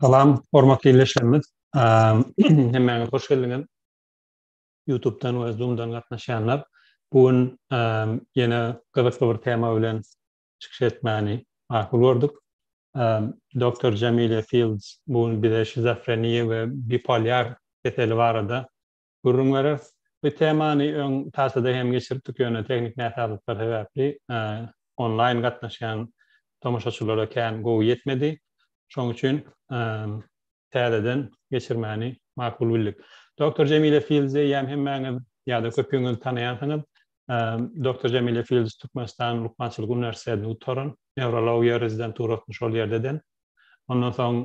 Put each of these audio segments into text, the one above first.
Salam, hormatly ildeşlerimiz. Hemmäňiz hoş geldiňiz. YouTube-dan we Zoom-dan gatnaşýanlar. Bu gün ýene gyzykly bir tema bilen çykyş etmäni makul gördük. Doktor Jamile Fields bu gün bize şizofreniýa we bipolýar keseli barada gürrüň bereris. Bu temany öň Taçada hem geçiripdik, ýöne tehniki näsazlyklar sebäpli onlaýn gatnaşýan tomaşaçylara kän gowy ýetmedi. Şonuň üçin täzeden geçirmäni makul bildik. Doktor Jemile Fields eýýäm hemmäňiz ýa-da köpüňiz tanaýansyňyz. Doktor Jemile Fields Türkmenistanyň Lukmançylyk uniwersitetini gutaran, neurologiýa rezidenturasyny şol ýerde eden. Ondan soň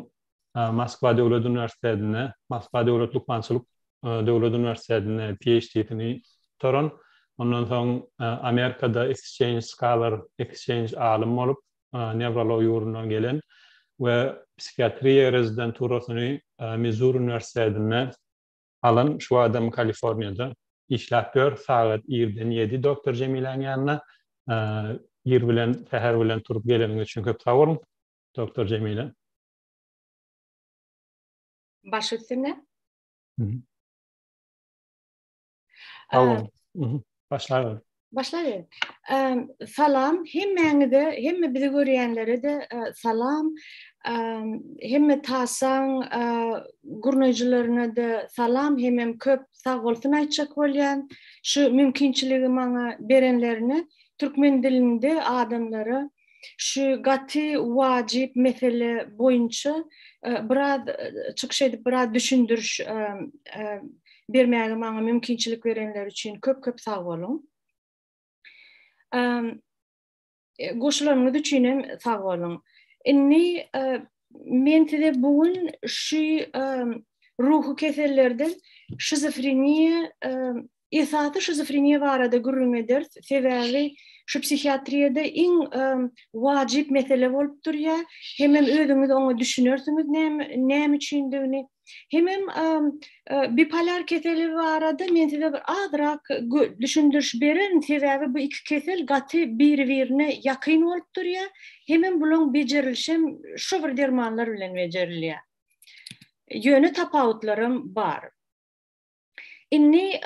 Moskwa döwlet uniwersitetinde, Moskwa döwlet lukmançylyk döwlet uniwersitetinde PHD-sini gutaran. Ondan soň Amerikada exchange scholar, exchange alym bolup, newrologiýa ugrundan gelen we psihiatriýa rezidenturasyny Mizuri uniwersitetinde Alan şu adam Kaliforniýada işläp ýör, sagat irden ýedi doktor Jemiläň ýanyna. Ir bilen, säher bilen turup geleniňiz üçin köp sag boluň, doktor Jemilä. Baş üstüne. Sag boluň. Başlaýarys. Başlaýyn. Salam hemmäňize, hemme bizi görýänlere-de e, salam. Hemme tasaň e, gurnaýjylaryna-da salam, hemem köp sag bolsun aýtjak bolýan. Şu mümkinçiligi maňa berenlerine türkmen dilinde adamlara şu gaty wajyp mesele boýunça e, biraz e, çykyş edip biraz düşündiriş e, bermäge maňa mümkinçilik berenler üçin köp köp sag boluň. Goşularyňyz üçin hem sag boluň. Indi men size bu gün şu ruhy kesellerden şizofreniýa Esasy şizofreniýa barada gürrüň ederis, sebäbi şu psihiatriýada iň wajyp mesele bolup durýar, hemem özüňiz oňa düşünersiňiz näme üçindigini. Hemem bipolar keseli barada men size bir azrak düşündiriş bererin, sebäbi bu iki kesel gaty biri-birine ýakyn bolup durýar, hemem bularyň bejerilişem şu bir dermanlar bilen bejerilýär. Ýöne tapawutlaram bar. Indi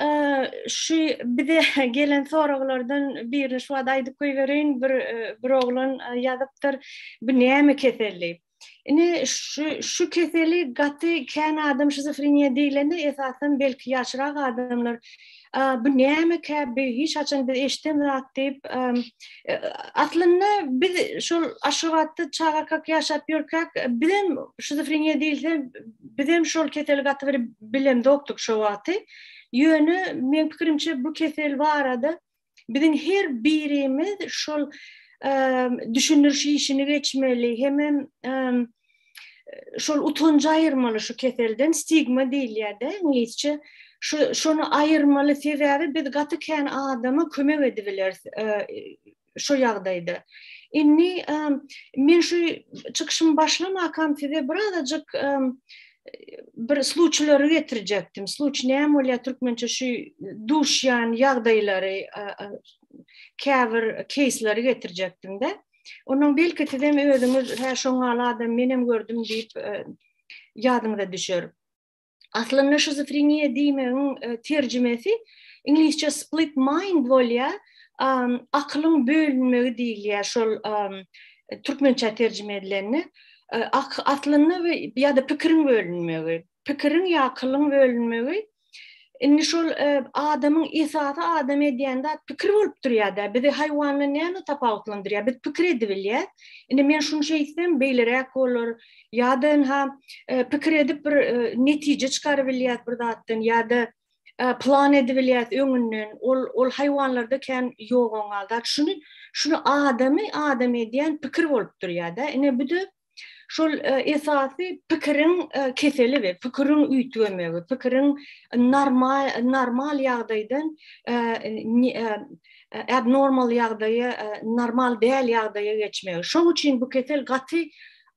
şu bize gelen soraglardan birini şu wagt aýdyp goýbereýin. Bir bir oglan ýazypdyr. Bu näme kesel diýip. Indi şu şu keseli gaty kän adam şizofreniýa diýlende esasan belki ýaşrak adamlar bu nämekä bu hiç haçan biz eşiden zat diýip Aslynda biz şol Aşgabatda çagakak ýaşap ýörkäk, bizem şizofreniýa diýilse, bizem şol keseli gaty bir bilemzokdyk şo wagty. Ýöne meň pikirimçe bu kesel barada biziň her birimiz şol düşündiriş işini geçmeli, hemem şol utanjy aýyrmaly şu keselden stigma diýilýär-de iňlisçe. Şu şony aýyrmaly sebäbi biz gaty kän adama kömek edibileris e, şu ýagdaýda. Indi e, men şu çykyşymy başlamakam size birazajyk e, bir sluçylary getirjekdim. Sluç näme bolýar türkmençe şu duşýan ýagdaýlary, käbir keýsleri getirjekdim-de. Ondan belki sizem özüňiz hä şoň ýaly adam menem gördüm diýip e, ýadyňyza düşer. Aslynda şizofreniýa diýmegiň e, terjimesi iňlisçe split mind bolýar, akylyň bölünmegi diýilýär şol türkmençe terjime edilende. E, aslynda ýa-da pikiriň bölünmegi, pikiriň ýa akylyň bölünmegi Indi şol e, adamyň esasy adam edýän zat pikir bolup durýar-da. Bizi haýwandan näme tapawutlandyrýar? Biz pikir edip bilýäs. Indi men şuny şeýtsem, beýleräk bolar. Ýa-da ha e, pikir edip bir e, netije çykaryp bilýäs bir zatdan ýa-da plan edip bilýäs öňünden. Ol ol haýwanlarda kän ýogan galdy. Şuny şuny adamy adam edýän pikir bolup durýar-da. Ine bu da şol e, esasy pikiriň e, keseli we pikiriň üýtgemegi, pikiriň normal normal ýagdaýdan e, abnormal ýagdaýa, normal däl ýagdaýa geçmegi. Şoň üçin bu kesel gaty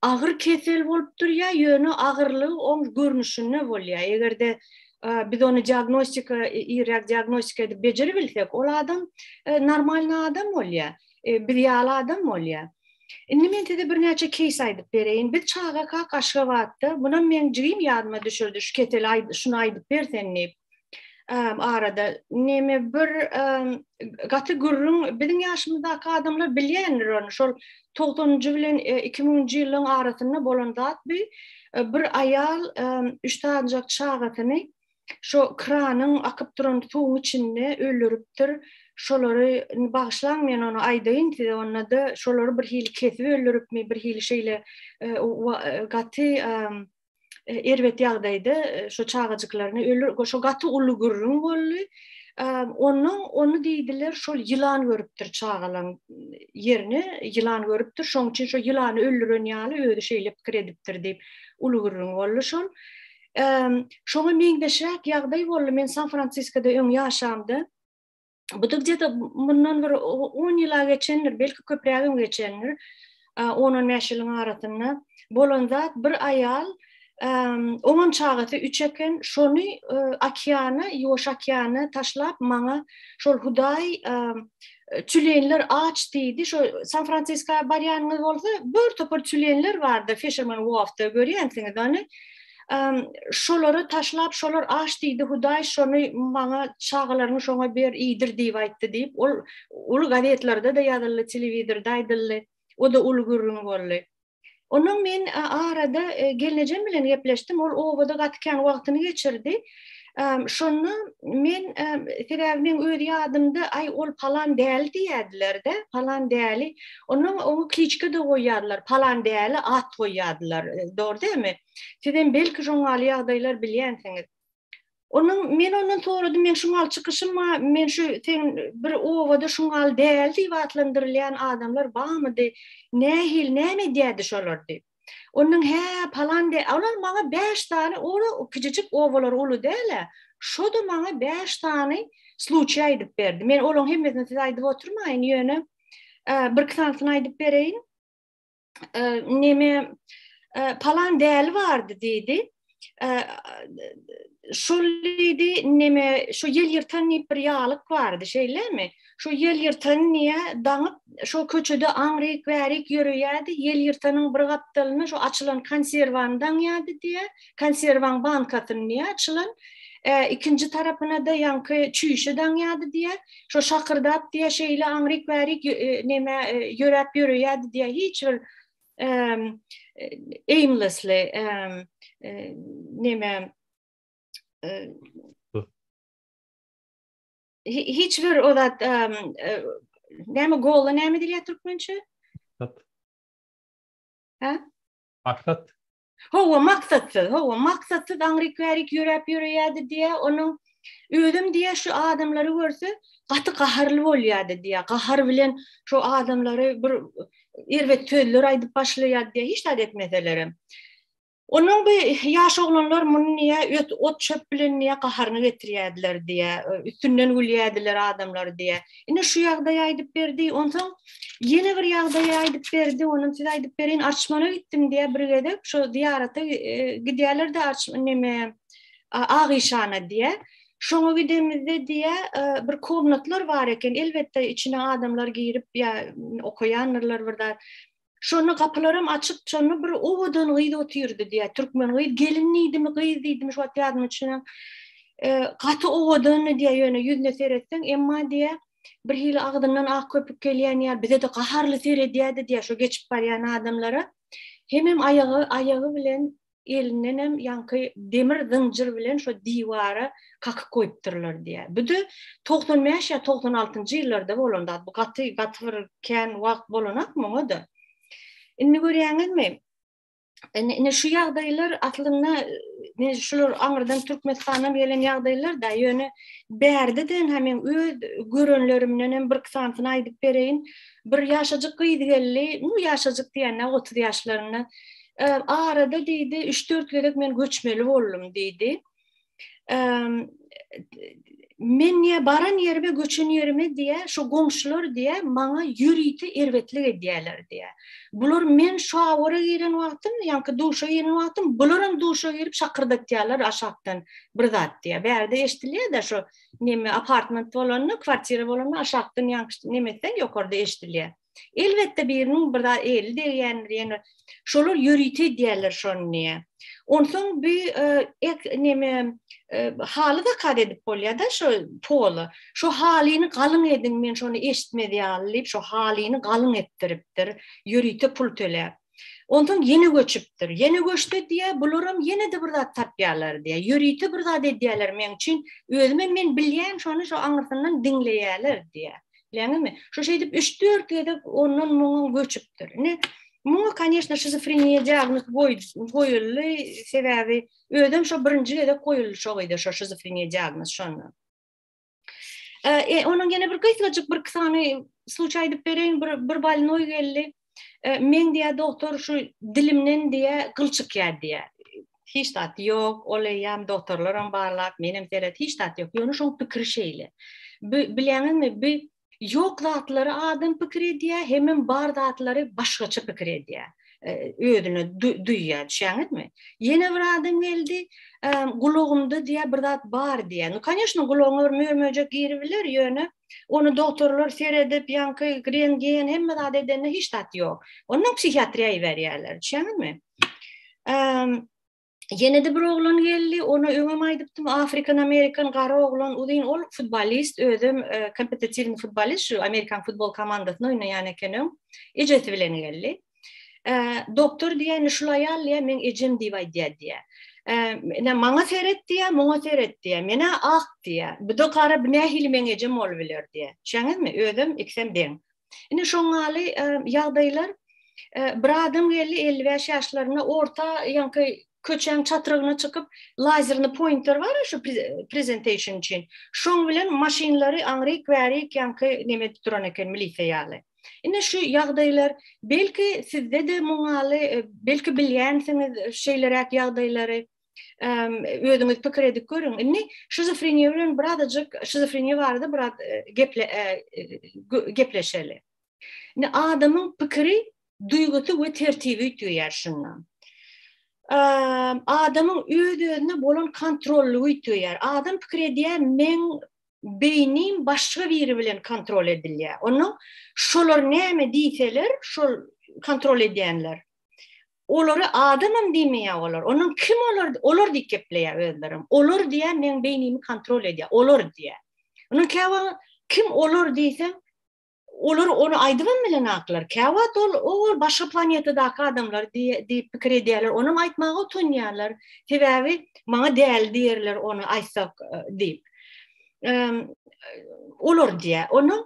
agyr kesel bolup durýar, ýöne agyrlygy oň görnüşinde bolýar. Eger-de biz ony diagnostika, irräk diagnostika edip bejerip bilsek, ol adam normalny adam bolýar. e, biz ýaly adam bolýar. Indi men size birnäçe keýs aýdyp bereýin. Biz çagaka Aşgabatda, munam meň jigim ýadyma düşürdi, şu keseli aýdy, şuny aýdyp bersen diýip. arada neme bir gaty gürrüň biziň ýaşymyzdaky adamlar bilýändir ony şol 90-njy bilen 2000-nji e, ýylyň arasynda bolan zat bu e, bir aýal üç sanjak çagasyny şo kranyň akyp duran suwuň içinde öldüripdir. Şolary bagyşlaň men ony aýdaýyn size onda-da şolary bir hili kesip öldüripmi bir hili şeýle e, e, gaty e, erbet ýagdaýda şo çagajyklaryny öldür şo gaty uly gürrüň boldy. Onu onu diýdiler şol ýylan görüpdir çagalaň ýerini ýylan görüpdir şoň üçin şo ýylany öldüren ýaly özi şeýle pikir edipdir diýip uly gürrüň boldy şol. Şoňa meňzeşräk ýagdaý boldy. Men San-Fransiskoda öň ýaşamda. Bu da gde-de mundan bir on ýyla geçendir, belki köprägem geçendir. On-on bäş ýylyň arasynda bolan zat bir aýal on çagasy üç eken, şony okeana, Ýuwaş okeana taşlap, maňa şol Hudaý tülenler aç diýdi. Şo San Fransiska barýanyňyz bolsa, bir topar tülenler bardy Fisherman Wharfda görýänsiňiz ony. Şolary taşlap, şolar aç diýdi, Hudaý şony maňa çagalaryňy şoňa ber, iýdir diýip aýtdy diýip, ol uly gazetlerde-de ýazyldy, telewizorda aýdyldy. O-da uly gürrüň boldy. Ondan men arada gelnejem bilen gepleşdim. Ol obada gaty kän wagtyny geçirdi. Şonda men sebäbi men öz ýadymda aý ol palan däli diýýärdiler-de, palan däli. Onuň oňa kliçka da goýýardylar, palan däli at goýýardylar. Dogry dälmi? Siz hem belki şoňaly ýagdaýlar bilýänsiňiz. Onuň men ondan soradym, men şu mal çykyşym bar, men şu sen bir obada şu mal däl diýip atlandyrylýan adamlar barmydy? Nähil, näme edýärdi şolar diýip. Onuň hä palan de, olar maňa 5 sany ora kiçijik obalar uly däl-ä. Şo-da maňa 5 sany sluçýa aýdyp berdi. Men olaryň hemmesini size aýdyp oturmaýyn, ýöne bir iki sanysyny aýdyp bereýin. neme palan däli bardy diýdi. Şol diýdi, neme şu ýel ýyrtan diýip bir ýalyk bardy, şeýlemi? Şu ýel ýyrtan niýe daňyp, şu köçede aňryk-bärik ýöreýärdi, ýel ýyrtanyň bir gapdalyna şu açylan konserwany daňýardy diýýär. konserwaň bankasyny diýýär açylan, e, ikinji tarapyna-da ýaňky çüýşe daňýardy diýýär. Şo şakyrdap diýýär, şeýle aňryk-bärik e, näme e, ýöräp ýöreýärdi diýýär. Hiç bir em, e, aimlessly em, e, näme e, hi- hiç bir o zat em, e, näme gola näme diýýär türkmençe? Maksat. Hawa, maksatsyz, hawa, maksatsyz aňryk-bärik ýöräp ýöreýärdi diýä, onuň özüm diýä şu adamlary görse, gaty gaharly bolýardy diýä, gahar bilen şu adamlary bir erbet sözler aýdyp başlaýardy diýä, hiç zat etmeselerem. Onuň bu ýaş oglanlar muny niýe öt ot çöp bilen niýe gaharyny getirýärdiler diýä, üstünden gülýärdiler adamlar diýä. Ine şu ýagdaýy aýdyp berdi. Onsoň ýene bir ýagdaýy aýdyp berdi. Onuň size aýdyp berin, Arçmana gitdim diýä bir gezek. Şu zyýarata e, gidýärler-de Arçman neme Agyşana diýä. Şoňa gidemizde diýä e, bir komnatlar bar eken. Elbetde içine adamlar girip ýa okaýandyrlar bir zat. Şonda gapylaram açyk, şonda bir owadan gyz otyrdy diýýär, türkmen gyz, gelin diýdimi, gyz diýdimi, şu wagt ýadyma düşenok. Gaty owadandy diýýär, ýöne ýüzüne seretseň, emma diýýär, birhili agzyndan ak köpük gelýän ýaly, bize-de gaharly seredýärdi diýýär, şo geçip barýan adamlara. Hemem aýagy, aýagy bilen elindenem ýaňky demir zynjyr bilen şo diwara kakyp goýupdyrlar diýýär. Bu-da 95 ýa 96-njy ýyllarda bolan zat. Bu gaty gaty bir kän wagt bolanok muňa-da. Indi görýäňizmi? Ine şu ýagdaýlar aslynda men şular aňyrdan Türkmenistandan gelen ýagdaýlar-da, ýöne bärde-de hem men öz görenlerimden hem bir iki sanysyny aýdyp bereýin. Bir ýaşajyk gyz geldi, nu ýaşajyk diýende 30 ýaşlarynda. Arada diýdi, üç-dört gezek men göçmeli boldum diýdi. Men niýe baran ýerime, göçen ýerime diýe, şu goňşular diýe, maňa ýörite erbetlik edýärler diýe. Bular men şu awara giren wagtym, ýaňky duşa giren wagtym, bular hem duşa girip şakyrdatýarlar aşakdan bir zat diýe. Bärde eşdilýär-de şu neme apartment bolanda, kwartira bolanda aşakdan ýaňky neme etseň, ýokarda eşdilýär. Elbetde biriniň bir zat eli degýändir, ýene şolar ýörite diýerler şony diýä. Onsoň bu e, ek neme e, haly zakaz edip bolýar-da şu pola. Şu halyny galyň ediň, men şony eşitmedi ýaly diýip, şu halyny galyň etdiripdir, ýörite pul töläp. Ondan ýene göçüpdir. Ýene göçdi diýä, bularam ýene de bir zat tapýarlar diýä. Ýörite bir zat edýärler meň üçin. Özüm hem men bilýän şony şu aňyrsyndan diňleýärler diýä. Bileňizmi? Şu şeýdip 3-4 gezek ondan muňa göçüpdir. Ine, muňa kanyýeşna şizofreniýa diagnoz goýuldy, sebäbi özem şo birinji gezek goýuldy şo gyza şo şizofreniýa diagnoz şonda. E, onun gene bir gysgajyk bir sany suç aýdyp bereýin, bir bir balnoý geldi. E, men diýä doktor şu dilimden diýä gyl çykýar diýä. Hiç zat ýok, ol eýýäm doktorlar hem barlap, men hem seret, hiç zat ýok. Ýöne şoň pikir şeýle. Bileňizmi, bi Ýok zatlary adam pikir edýär, hemem bar zatlary başgaça pikir edýär. Özüne duýýar, düşýäňizmi? Ýene bir adam geldi, gulagymda diýýär bir zat bar diýýär. Nu kanyýeşno gulagyňa bir mör-möjek giribiler, ýöne ony dogtorlar seredip, ýaňky rentgen hemme zat edende hiç zat ýok. Ondan psihiatriýa iberýärler, düşýäňizmi? Ýene-de bir oglan geldi, ona öňem aýdypdym, afrikan-amerikan gara oglan, uzyn, ol futbolist, özem e, kompetitiwny futbolist, şu amerikan futbol komandasyna oýnaýan eken öň, ejesi bilen geldi. E, doktor diýen şul aýal diýä, men ejem diýip aýdýar diýä. Ene maňa seret diýä, muňa seret diýä. Menä ak diýä. Bu da gara bu nähili meň ejem bolup biler diýä. Şeňizmi? Özüm iksem deň. Indi şoňaly ýagdaýlar bir adam geldi 55 ýaşlarynda orta ýaňky köçäň çatrygyna çykyp lazerini pointer bar şu presentation üçin şoň bilen maşynlary aňryk bärik ýaňky neme edip duran eken milisiýa ýaly indi şu ýagdaýlar belki sizde de muňaly belki bilýänsiňiz şeýleräk ýagdaýlary özüňiz pikir edip görüň. Indi şizofreniýa bilen birazajyk şizofreniýa barada biraz e, geple e, e, gepleşeli. Indi adamyň pikiri, duýgusy we tertibi üýtgeýär şundan. Adamyň öz-özüne bolan kontrollygy üýtgeýär. Adam pikir edýär, men beýnim başga biri bilen kontrol edilýär. Onuň şolar näme diýseler, şol kontrol edýänler. Olary adamam diýmeýär olar. Onuň kim olar, olar diýip gepleýär özlerem. Olar diýär, meň beýnimi kontrol edýär. Olar diýär. Onuň käwa kim olar diýseň, olar ony aýdybam bilenaklar. Käwagt ol ol başga planetadaky adamlar diýip pikir edýärler. Onam aýtmaga utanýarlar. Sebäbi maňa däli diýerler ony aýtsak diýip. Olar diýär. Onuň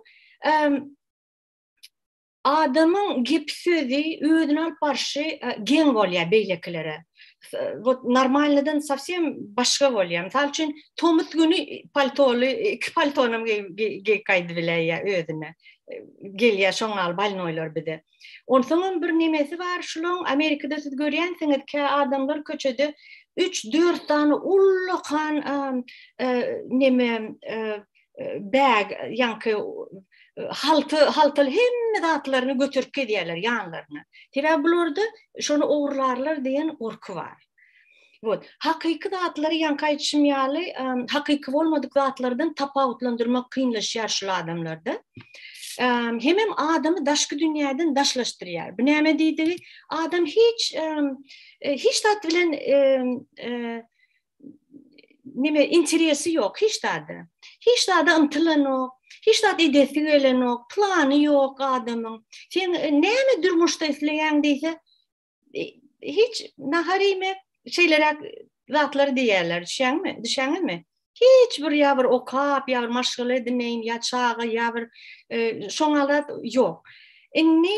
Adamyň gepi-sözi, özüni alyp barşy geň bolýar beýlekilere. Wot normalnydan sowsem başga bolýar. Mysal üçin, tomus güni paltoly, iki paltonam geýip gaýdyp biläýýär özüne. Gelýär şoň ýaly balnoýlar bize. Onsoňam bir nemesi bar, şulaň Amerikada siz görýänsiňiz, kä adamlar köçede üç-dört sany ullakan neme bag ýaňky halty haltal hemme zatlaryny götürip gelýärler ýanlaryna. Sebäbi bularda şony ogurlarlar diýen gorky bar. Bot, hakyky zatlary ýaňky aýdyşym ýaly, hakyky bolmadyk zatlardan tapawutlandyrmak kynlaşýar şul adamlarda. Hemem adamy daşky dünýäden daşlaşdyrýar. Bu näme diýdigi? Adam hiç hiç zat bilen nime interesi yok hiç zada. Hiç zada ymtylanok, hiç zat edesi gelenok, plany yok adamyň. Sen e, näme durmuşda isleýäň diýse, e, hiç nahar iýmek, şeýleräk zatlar diýýärler, düşýäňmi? Düşýäňizmi? Hiç bir ýa bir okap, ýa bir maşgala edineýin, ýa çaga, ýa bir e, şoňa zat ýok. Indi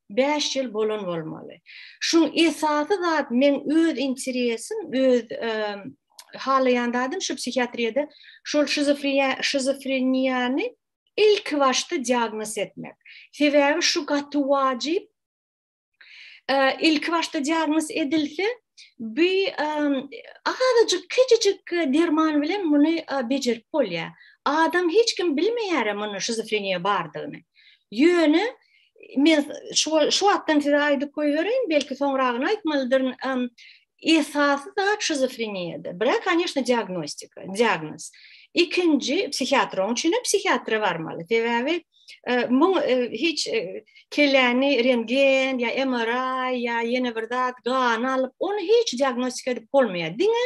bäş ýyl bolan bolmaly. Şuň esasy zat meň öz interesim, öz halaýan zadym şu psihiatriýada şol şizofreniýany ilki başda diagnoz etmek. Sebäbi şu gaty wajyp. Ilki başda diagnoz edilse, bu azajyk kiçijik derman bilen muny bejerip bolýar. Adam hiç kim bilmeýär muny şizofreniýa bardygyny. Ýöne men şu şu wagtdan size aýdyp goýberin, belki soňragyny aýtmalydyryn. Esasy da şizofreniýada. Bira kanyýeşna diagnostika, diagnoz. Ikinji psihiatr oň üçin psihiatra barmaly. Sebäbi e, muň e, hiç e, kelläni rentgen ýa MRI ýa ýene bir zat gan alyp, ony hiç diagnostika edip bolmaýar. Diňe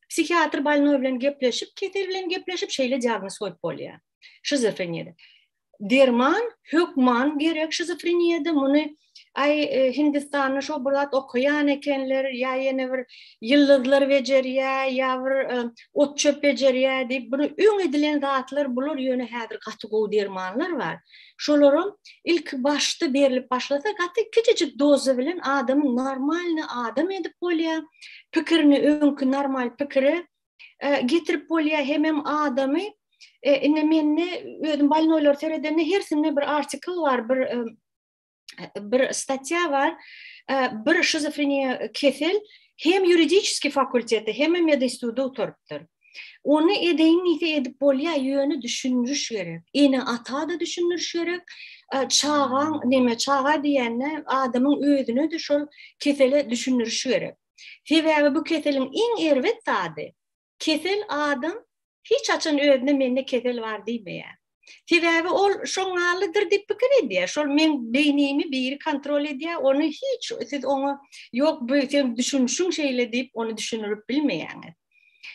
psihiatr balnoý bilen gepleşip, kesel bilen gepleşip şeýle diagnoz goýup bolýar. şizofreniýada. Derman hökman gerek şizofreniýada muny ay e, Hindistanda şu bir zat okuyan ekenler ya yeni bir yıldızlar becerýä ya bir e, ot çöp becerýä diýip bunu öň edilen zatlar bular ýöne häzir gaty gowy dermanlar bar. Şolaram ilk başda berlip başlasa gaty kiçijik doza bilen adamyň normalny adam edip bolýar. Pikirini öňki normal pikire e, getirip bolýar hemem adamy e, indi mende özüm balnoýlar seredende hersinde bir artikl bar bir e, bir statýa bar bir şizofreniýa kesel hem ýuridiski fakulteti hem medinstitutda oturypdyr Ony edeýin diýse edip bolýar, ýöne düşündiriş gerek. Ene ata da düşündiriş gerek. Çagaň neme çaga diýende adamyň özüne de şol kesele düşündiriş gerek. Sebäbi bu keseliň iň erbet zady, kesel adam hiç haçan özüne mende kesel bar diýmeýär. Sebäbi ol şoňňalydyr diýip pikir edýär. Şol meň beýnimi biri kontrol edýär, ony hiç siz oňa ýok bu sen düşünişiň şeýle diýip ony düşünirip bilmeýäňiz.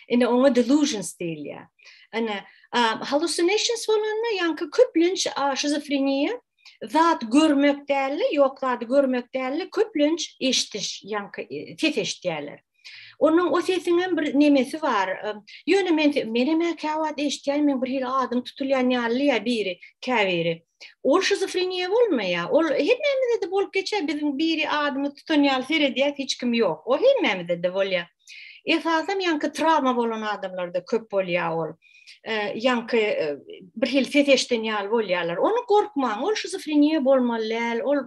Ine oňa delusions diýilýär. Ana hallucinations bolanda ýaňky köplenç şizofreniýa zat görmek däldi, ýok zady görmek däldi, köplenç eşdiş, ýaňky e, ses eşidýärler. Onuň o sesiň hem bir nemesi bar. Ýöne men menem käwagt eşitýän, men bir hili adym tutulýan ýaly ýa biri, käbiri. Ol şizofreniýa bolmaýar. Ol hemmämizde de bolup geçýär. Biziň biri adymy tutan ýaly seredýär, hiç kim ýok. O hemmämizde de bolýar. Esasam ýaňky trawma bolan adamlarda köp bolýar ol. ýaňky bir hil ses eşden ýaly bolýarlar. Ony gorkmaň, ol şizofreniýa bolmaly däl. Ol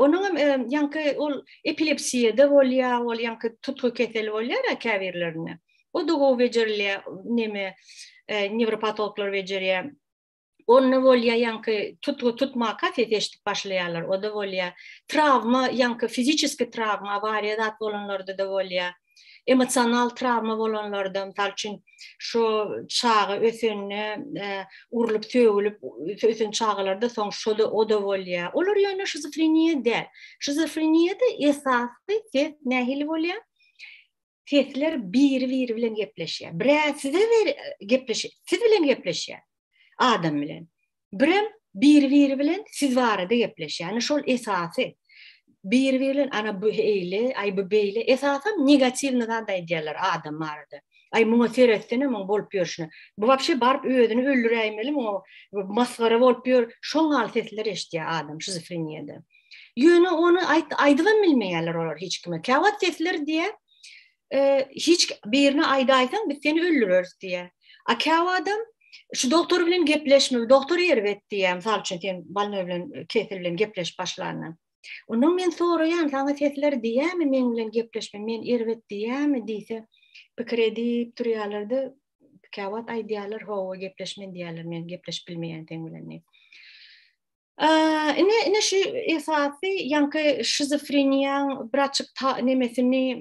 onuň hem ýaňky ol epilepsiýada bolýar, ol ýaňky tutgy keseli bolýar käbirlerinde. O da gowy bejerilýär, neme, newropatologlar bejerýär. onda bolýa ýaňky tutgy tutmaka ses eşidip başlaýarlar oda bolýa trawma ýaňky fiziçeski trawma awariýa zat bolanlarda da bolýa emosional trawma bolanlarda mysal üçin şu çaga ösende e, urlup sögülip ösen çagalarda soň şu da oda bolýa olar ýöne şizofreniýa däl şizofreniýada esasy ses nähili bolýa sesler biri-biri bilen gepleşýär. Birä size ber gepleşýär, siz bilen gepleşýär. Adam bilen. Birem biri-biri bilen siz barada gepleşýär. Ýani şol esasy biri-biri bilen ana bu eýle, aý bu beýle. Esasan negatiwny zat aýdýarlar adam barada. Aý muňa seretsene muň bolup ýörşüne. Bu wapşe baryp özüni öldüräýmeli muňa masgara bolup ýör. Şoňal sesler eşitýär adam şizofreniýada. Ýöne ony aýt aýdybam bilmeýärler olar hiç kime. Käwagt sesler diýe, e, hiç birine aýdaýsaň biz seni öldüreris diýe. A käwagtam şu doktor bilen gepleşme, doktor erbet diýe, mysal üçin sen balna bilen e, kesel bilen gepleşip başlanyň. Ondan men soraýan, saňa sesler diýämi men bilen gepleşme, men erbet diýämi diýse, pikir edip durýarlarda, käwagt aýdýarlar, howa gepleşmen diýýärler, men gepleşip bilmeýän sen bilen diýip. Ine, ine şu esasy ýaňky şizofreniýaň bir açyk ta nemesini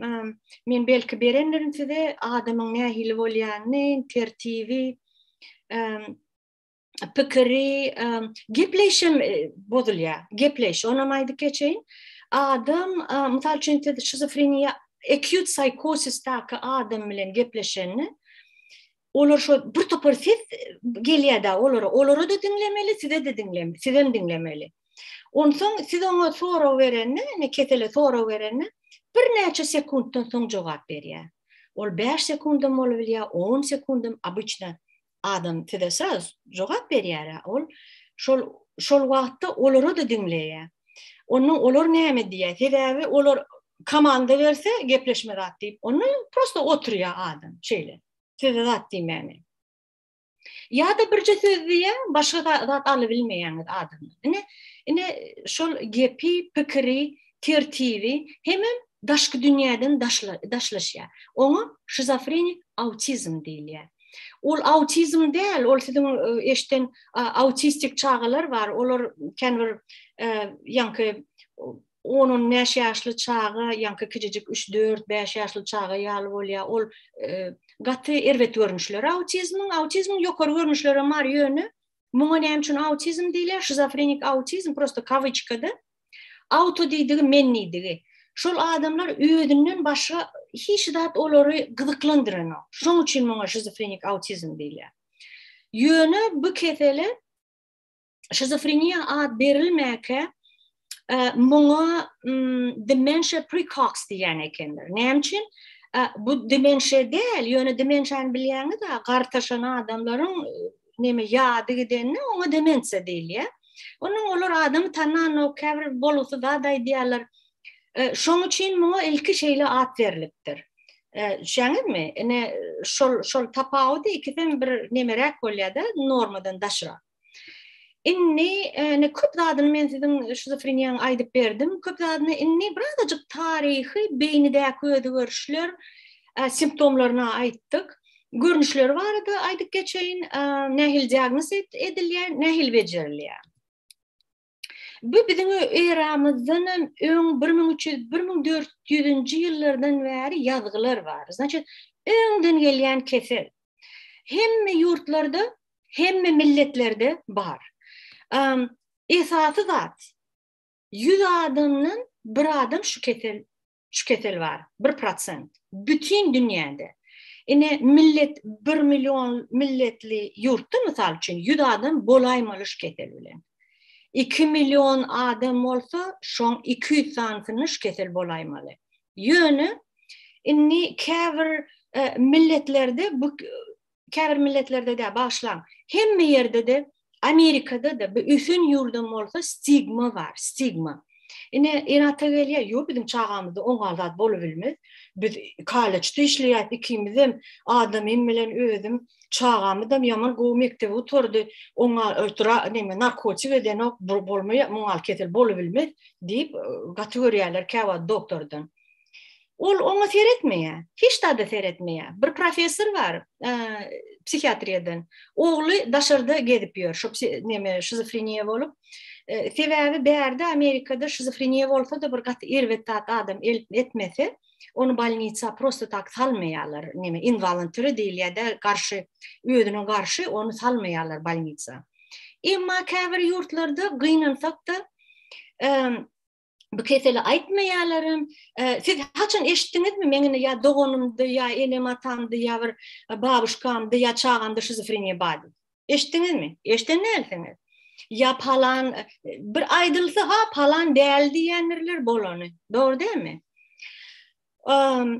men belki berendirin size, adamyň nähili bolýanyny, tertibi, pikiri, gepleýşem bozulýar. Gepleýş, onam aýdyp geçeýin. Adam, mysal üçin, siz şizofreniýa, acute psychosis-däki adam bilen gepleşende, olar şo bir topar ses gelýärdi olara olara da diňlemeli size de diňlem sizem diňlemeli onsoň siz oňa sorag berende ne kesele sorag berende bir näçe sekuntdan soň jogap berýär ol 5 sekundam bolup bilýär 10 sekundam obычna adam size sraz jogap berýär ol şol şol wagtda olara da diňleýär onuň olar näme diýýär sebäbi olar komanda berse gepleşme zat diýip onda prosta oturýar adam şeýle söze zat diýmäni. Ýa-da birje söz diýýä, başga zat aly bilmeýäňiz adamy. Ine, ine şol gepi, pikiri, tertibi hemem daşky dünýäden daşla, daşlaşýar. Oňa şizofrenik autizm diýilýär. Ol autizm däl, ol siziň e, eşden autistik çagalar bar, olar kän bir e, ýaňky on-on bäş ýaşly çaga, ýaňky kiçijik üç-dört, bäş ýaşly çaga ýaly bolýar. Ol gaty erbet görnüşleri autizmiň. Autizmiň ýokary görnüşleri hem bar, ýöne muňa näme üçin autizm diýilýär? Şizofrenik autizm prosta kawiçkada. Auto diýdigi men diýdigi. Şol adamlar özünden başga hiç zat olary gyzyklandyranyok. Şoň üçin muňa şizofrenik autizm diýilýär. Ýöne bu kesele şizofreniýa ad berilmäkä e, muňa dementia precox diýen ekenler. Näme üçin? E, bu dementia däl, ýöne dementiýany bilýäňiz, gartaşan adamlaryň e, näme ýady gidende oňa demensiýa diýilýär. Onuň olar adamy tananok, käbir bolgusy zat aýdýarlar. E, şoň üçin muňa ilki şeýle at berlipdir. Şäňizmi? Ine şol şol tapawudy ikisem bir nemeräk bolýar-da, normadan daşrak. Indi ne köp zadyny men siziň şizofreniýaň aýdyp berdim. Köp zadyny indi birazajyk taryhy beýnidäki özgerişler simptomlaryny aýtdyk. Görnüşleri barada aýdyp geçeýin. Nähili diagnoz edilýär, nähili bejerilýär. Bu biziň eramyzdan hem öň 1300-1400-nji ýyllardan bäri ýazgylar bar. Znaçit, öňden gelýän kesel. Hemme ýurtlarda, hemme milletlerde bar. Um, esasy zat, 100 adamdan bir adam şu kesel şu kesel bar, bir prosent. Bütin dünýäde. Ine, millet, bir million milletli ýurtda, mysal üçin, ýüz adam bolaýmaly şu kesel bilen. Iki million adam bolsa, şoň iki ýüz sanysyna şu kesel bolaýmaly. Ýöne, indi käbir e, milletlerde bu Käbir milletlerde-de, bagyşlaň, hemme ýerde-de, Amerikada-da, bu ösen ýurdam bolsa stigma bar, stigma. Ine, en-ata gelýär, ýok, biziň çagamyzda oňa zat bolubilmez. Biz kollejde işleýäs, ikimizem, adamym bilen özüm, çagamyzam ýaman gowy mekdebe gutardy, oňa neme, narkotik edenok, bolmaýar, muňal kesel bolubilmez diýip, gaty görýärler käwagt doktordan. Ol oňa seretmeýär. Hiç zada seretmeýär. Bir professor bar, e, psihiatriýadan. Ogly daşarda gezip ýör, şu neme şizofreniýa bolup. E, sebäbi bärde Amerikada şizofreniýa bolsa-da bir gaty erbet zat adam elip etmese, onu bolnisa prosto tak salmaýarlar. Neme involuntary diýilýär-de, garşy özüne garşy onu salmaýarlar bolnisa. Emma käbir ýurtlarda gynansak-da, e, bu keseli aýtmaýarlarym. E, siz haçan eşitdiňizmi meňini ýa doganymdy ýa enem atamdy ýa bir e, babuşkamdy ýa çagamdy şizofreniýa bar. Eşitdiňizmi? Eşden näliňiz? Ýa palan e, bir aýdylsa ha palan däl diýendirler bolany. Dogry dämi? Ehm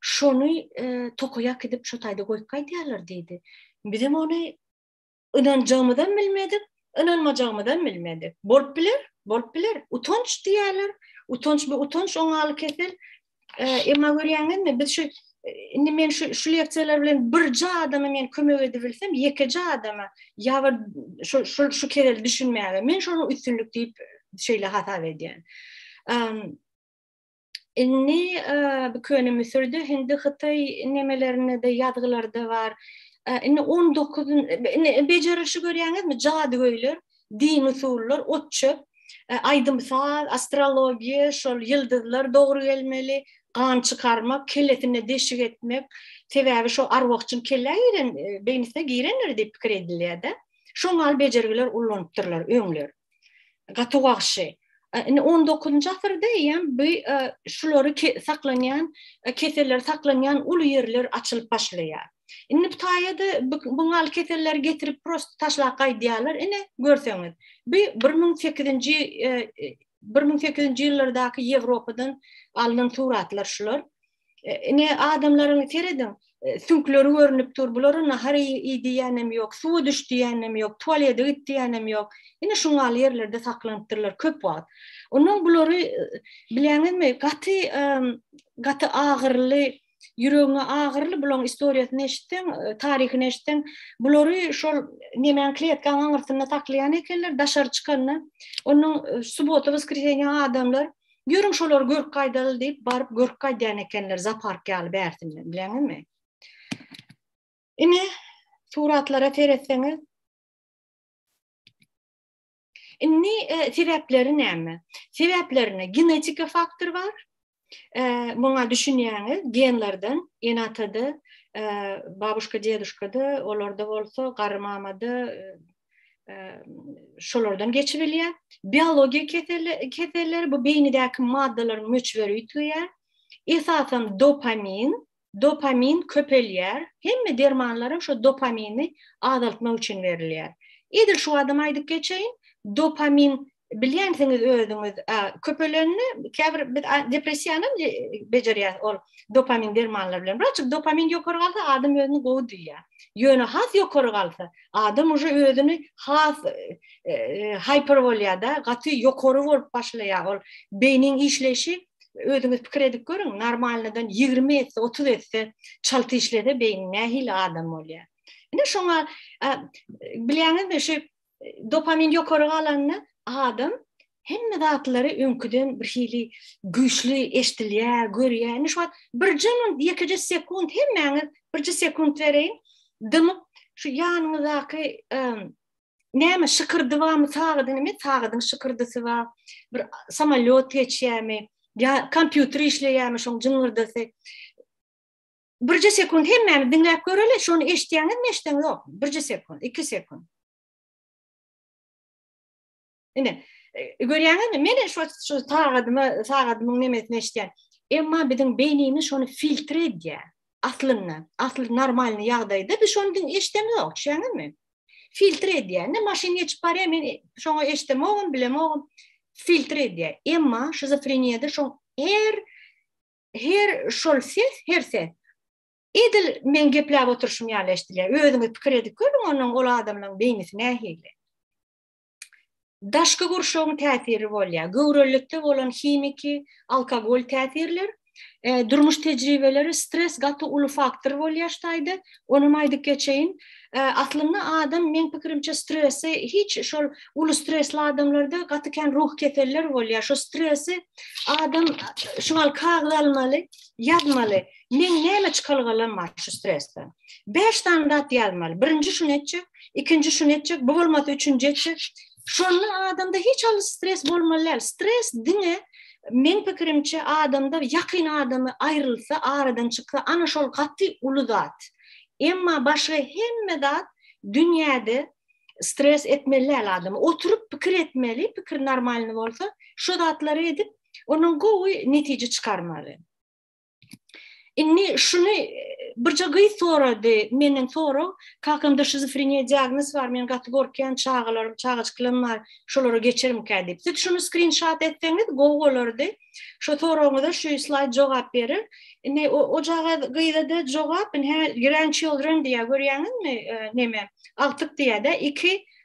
şony tokaýa äkidip şo taýda goýup gaýdýarlar diýdi. Bizem ony ynanjagymyzam bilmedik, ynanmajagymyzam bilmedik. Bolup biler, bolup biler. Utanç diýerler. Utanç bu utanç oňaly kesel. Emma görýäňizmi, biz şu indi men şu şu leksiýalar bilen birje adama men kömek edip bilsem, ýekeje adama ýa bir şu şu şu kerel düşünmäge men şonuň üstünlik diýip şeýle hasap edýän. Indi bu köne Müsürde, hindi Hytaý nemelerinde de ýazgylarda bar. Indi 19 indi bejerişi görýäňizmi? Jadygöýler, dini usullar, otçöp, aýdym saz, astrologiýa, şol ýyldyzlar dogry gelmeli, gan çykarmak, kellesine deşik etmek. Sebäbi şo arwahçyň kellä giren, beýnisine girendir diýip pikir edilýär-de. Şoňa al bejergiler ullanypdyrlar öňler. gaty wagşy. Indi 19-njy asyrda eýýäm bu şulary saklanýan, keseller saklanýan uly ýerler açylyp başlaýar. Indi bu taýada bu gal keselleri getirip prosta taşlap gaýdýarlar. Ine, görseňiz, bu bir müň sekizinji bir müň sekizinji ýyllardaky Ýewropadan alnan suratlar şular. Ine adamlaryň serediň, e, süňkleri görünip dur. Bulara nahar iý diýenem ýok, suwa düş diýenem ýok, tualete git diýenem ýok. Ine şu ýaly ýerlerde saklanypdyrlar köp wagt. Ondan bulary e, bileňizmi, gaty e, gaty agyrly Ýüregiňe agyrly bulaň istoriýasyny eşitseň, taryhyny eşitseň, bulary şol nemäň kletkaň aňyrsynda saklaýan ekenler, daşary çykanda. Onuň subota, woskresiýa adamlar Ýörüň şolary görüp gaýdaly diýip baryp görüp gaýdýan ekenler zapark ýaly bärsinden bileňizmi? Ine suratlara seretseňiz Indi e, sebäpleri näme? Sebäplerine genetika faktor bar. E, muňa düşünýäňiz, genlerden, enatada, e, babuşka, deduşkada, olarda bolsa, garry mamada, e, şolardan geçip bilýär. Biologiýa keselleri, keselleri bu beýnidäki maddalaryň möçberi ýitýär. Esasan dopamin, dopamin köpelýär. Hemme dermanlar hem şu dopamini azaltmak üçin berilýär. Edil şu adam aýdyp geçeýin, dopamin Bilýänsiňiz özüňiz, köpelende käbir biz depressiýanam bejerýäs ol dopamin dermanlary bilen. Wraç dopamin ýokary galsa adam özüni gowy duýýar. Ýöne has ýokary galsa adam uje özüni has hyper bolýar-da, gaty ýokary bolup başlaýar ol beýniň işleýşi özüňiz pikir edip görüň, normalnydan ýigrimi esse, otuz esse çalt işlese beýni nähili adam bolýar. Ine şoňa bilýäňizmi şu dopamin ýokary galanda adam hemme zatlary öňküden bir hili güýçli eşdilýär, görýär. Indi şu wagt birje minut, ýekeje sekunt hemmäňiz birje sekunt bereýin. Dymyp şu ýanyňyzdaky näme şykyrdy barmy sagady näme sagadyň şykyrdysy bar bir samolýot geçýärmi ýa kompýuter işleýärmi şoň jyňyrdysy Birje sekund hemmämiz diňläp göreli, şony eşitýäňizmi, eşideňiz ýokmy? Birje sekund, iki sekund. Ine, e, görýäňizmi? Men şu şu sagadyma, sagadymyň nemesini eşitýän. Emma biziň beýnimiz şony filtre edýär. Aslynda, asly normalny ýagdaýda biz şony diň eşidemiz ýok, düşünýäňizmi? Filtre edýär. Ne maşyn geçip barýar, men şoňa eşidemogum, bilemogum. Filtre edýär. Emma şizofreniýada şoň her Her şol ses, her ses. Edil meň gepläp oturyşym ýaly eşidilýär. Özüňiz pikir edip görüň, onuň ol adamlaryň beýnisi nähili. Daşky gurşawyň täsiri bolýar. Göwrelilikde bolan himiki, alkogol täsirler, durmuş tejribeleri, stres gaty uly faktor bolýar şu taýda. Onam aýdyp geçeýin, aslynda adam meň pikirimçe stresi hiç şol uly stresli adamlarda gaty kän ruh keseller bolýar. Şu stresi adam şu gal kagyz almaly, ýazmaly. Meň näme çykalgalam bar şu stresden? Bäş sany zat ýazmaly. Birinji şuny etjek, ikinji şuny etjek, bu bolmasa üçünji etjek. Şonda adamda hiç haly stres bolmaly däl. Stres diňe men pikirimçe adamda ýakyn adamy aýrylsa, aradan çyksa, ana şol gaty uly zat. Emma başga hemme zat dünýäde stres etmeli däl adamy. Oturyp pikir etmeli, pikir normalny bolsa, şu zatlary edip, ondan gowy netije çykarmaly. Indi şuny birje gyz sorady, menden sorag, kakamda şizofreniýa diagnoz bar, men gaty gorkýan, çagalarym, çagajyklarym bar, şolara geçermikä diýip. Siz şuny skrinşat etseňiz gowy bolardy. Şo soragyňyza şu slaýd jogap berer. Indi o, o caga gyza-da jogap, indi grandchildren diýýär, görýäňizmi, e, neme, agtyk diýýär-de, iki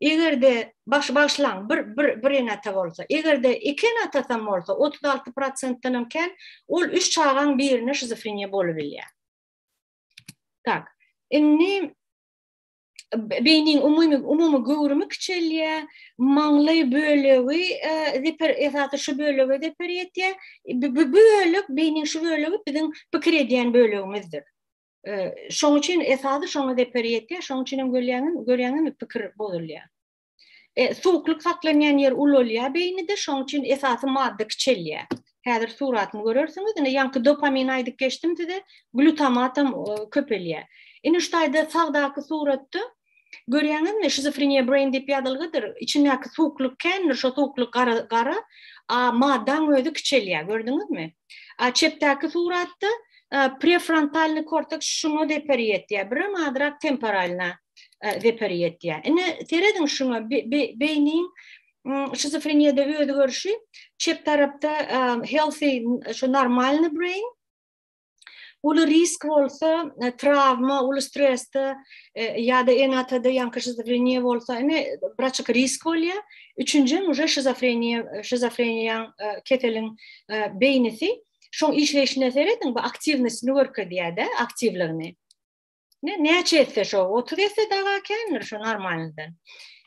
Eger-de baş bagyşlaň bir bir bir ene-ata bolsa, eger-de iki ene-atasam bolsa otuz alty prosentdenem kän ol üç çagaň birine şizofreniýa bolubilýär. Tak. Indi beýniň umumy umumy göwrümi kiçelýär, maňlaý bölegi zeper esasy şu bölege zeper ýetýär. Bu bölek beýniň şu bölegi biziň pikir edýän bölegimizdir. Şoň üçin esasy şoňa zeper ýetýär, şoň üçin hem görýäňiz, görýäňizmi pikir bozulýar. E, suwuklyk saklanýan ýer ulalýar beýnide, şoň üçin esasy madda kiçelýär. Häzir suratyny görersiňiz, indi ýaňky dopamin aýdyp geçdim size, glutamat hem köpelýär. Indi şu taýda sagdaky suratda Görýäňizmi, şizofreniýa brain diýip ýazylgydyr. Içindäki suwuklyk kändir, şo suwuklyk gara, gara, a maddaň özi kiçelýär, gördüňizmi? A çepdäki suratda prefrontalny korteks şuňa zeper ýetýär, birem azrak temporalna zeper ýetýär. Ine, serediň şuňa, beýniň şizofreniýada özi görşi, çep tarapda healthy, şu normalny brain, uly risk bolsa, e, travma, uly stresde e, ýa-da enatada ýanky şizofreniýa bolsa, ine braçyk risk bolýar. Üçünji uje şizofreniýa, e, şizofreniýaň keseliň beýnisi şoň işleýşine serediň, bu aktiwnosini görkezýär-de, aktiwligini. Ne näçe etse şo 30 etse daga kändir şo normalnydan.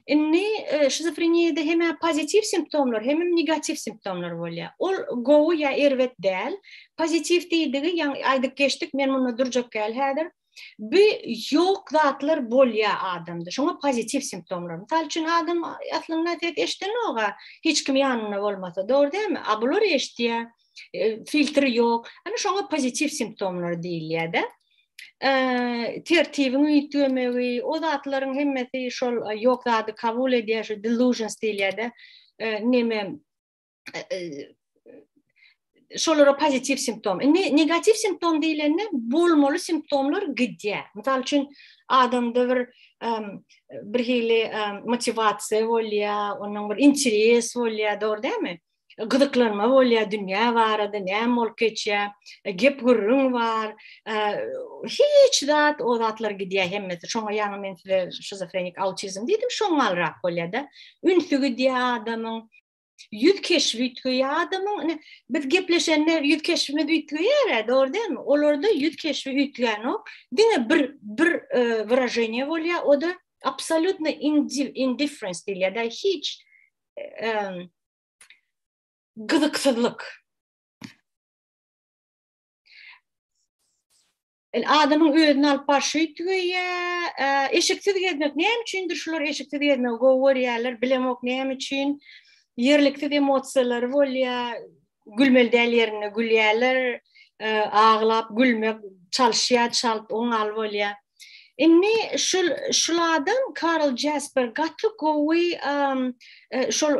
Indi e, şizofreniýada hem pozitiw simptomlar, hem negatiw simptomlar bolýar. Ol gowy ýa erbet däl. Pozitiw diýdigi, ýa aýdyp geçdik, men munda durjak däl häzir. Bu ýok zatlar bolýar adamda. Şoňa pozitiw simptomlar. Mysal üçin adam aslynda ses eşdenok-a, hiç kim ýanynda bolmasa, dogry dälmi? A bular eşdýär. E, filtri ýok. Ana şoňa pozitiw simptomlar diýilýär-de. tertibiň üýtgemegi, o zatlaryň hemmesi şol ýok zady kabul edýär, şu delusions diýilýär-de, neme şolara pozitiw simptom. Indi negatiw simptom diýlende bolmaly simptomlar gidýär. Mysal üçin, adamda bir bir hili motiwasiýa bolýar, onuň bir interes bolýar, dogry dälmi? gyzyklanma bolýar dünýä barada, näme bolup geçýär, e, gep-gürrüň bar. E, hiç zat, o zatlar gidýär hemmesi. Şoňa ýaňy men size şizofrenik autizm diýdim, şoňalrak bolýar-da. Ünsi gidýär adamyň. Ýüz keşbi üýtgeýär adamyň. Biz gepleşende ýüz keşbimiz üýtgeýär-ä, dogry dälmi? Olarda ýüz keşbi üýtgänok. Diňe bir bir e, wyraženiýe bolýar, o da absolýutno indifference diýilýär-da, hiç e, gyzyksyzlyk. El adamyň özüni alyp barşy tügeýä, eşiksiz gezmek näme üçindir şular eşiksiz gezmegi gowy görýärler, bilemok näme üçin. Ýerliksiz emosiýalary bolýa, Gülmeli däl ýerinde gülýärler, aglap gülmek çalyşýar çalt oňal bolýa. Indi şul şul adam Karl Jasper gaty gowy şol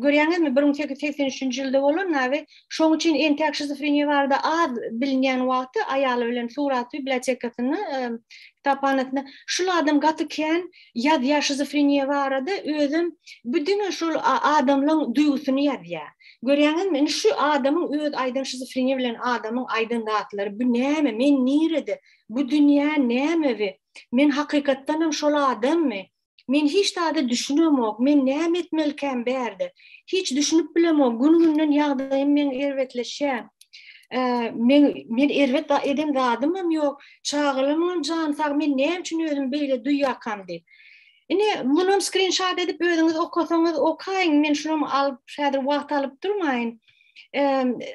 görýäňizmi bir müň sekiz ýüz segsen üçünji ýylda bolan nabi şoň üçin entäk şizofreniýa barada az bilinýän wagty aýaly bilen surat bibliotekasyny kitaphanasynda şul adam gaty kän ýazýar şizofreniýa barada özem bu diňe şol adamlaň duýgusyny ýazýar görýäňizmi indi şu adamyň öz aýdan şizofreniýa bilen adamyň aýdan zatlary bu näme men nirede bu dünýä näme we men hakykatdanam şol adammy men hiç zada düşünemok men näme etmelikäm bärde hiç düşünip bilemok gün günden ýagdaýym meň erbetleşýär men erbet eden zadymam ýok Çagalymyň jany sag, men näme üçin özümi beýle duýýarkam diýip. Ine, munam skrinşat edip özüňiz okasaňyz okaýyň, men şulam alyp, häzir wagt alyp durmaýyn.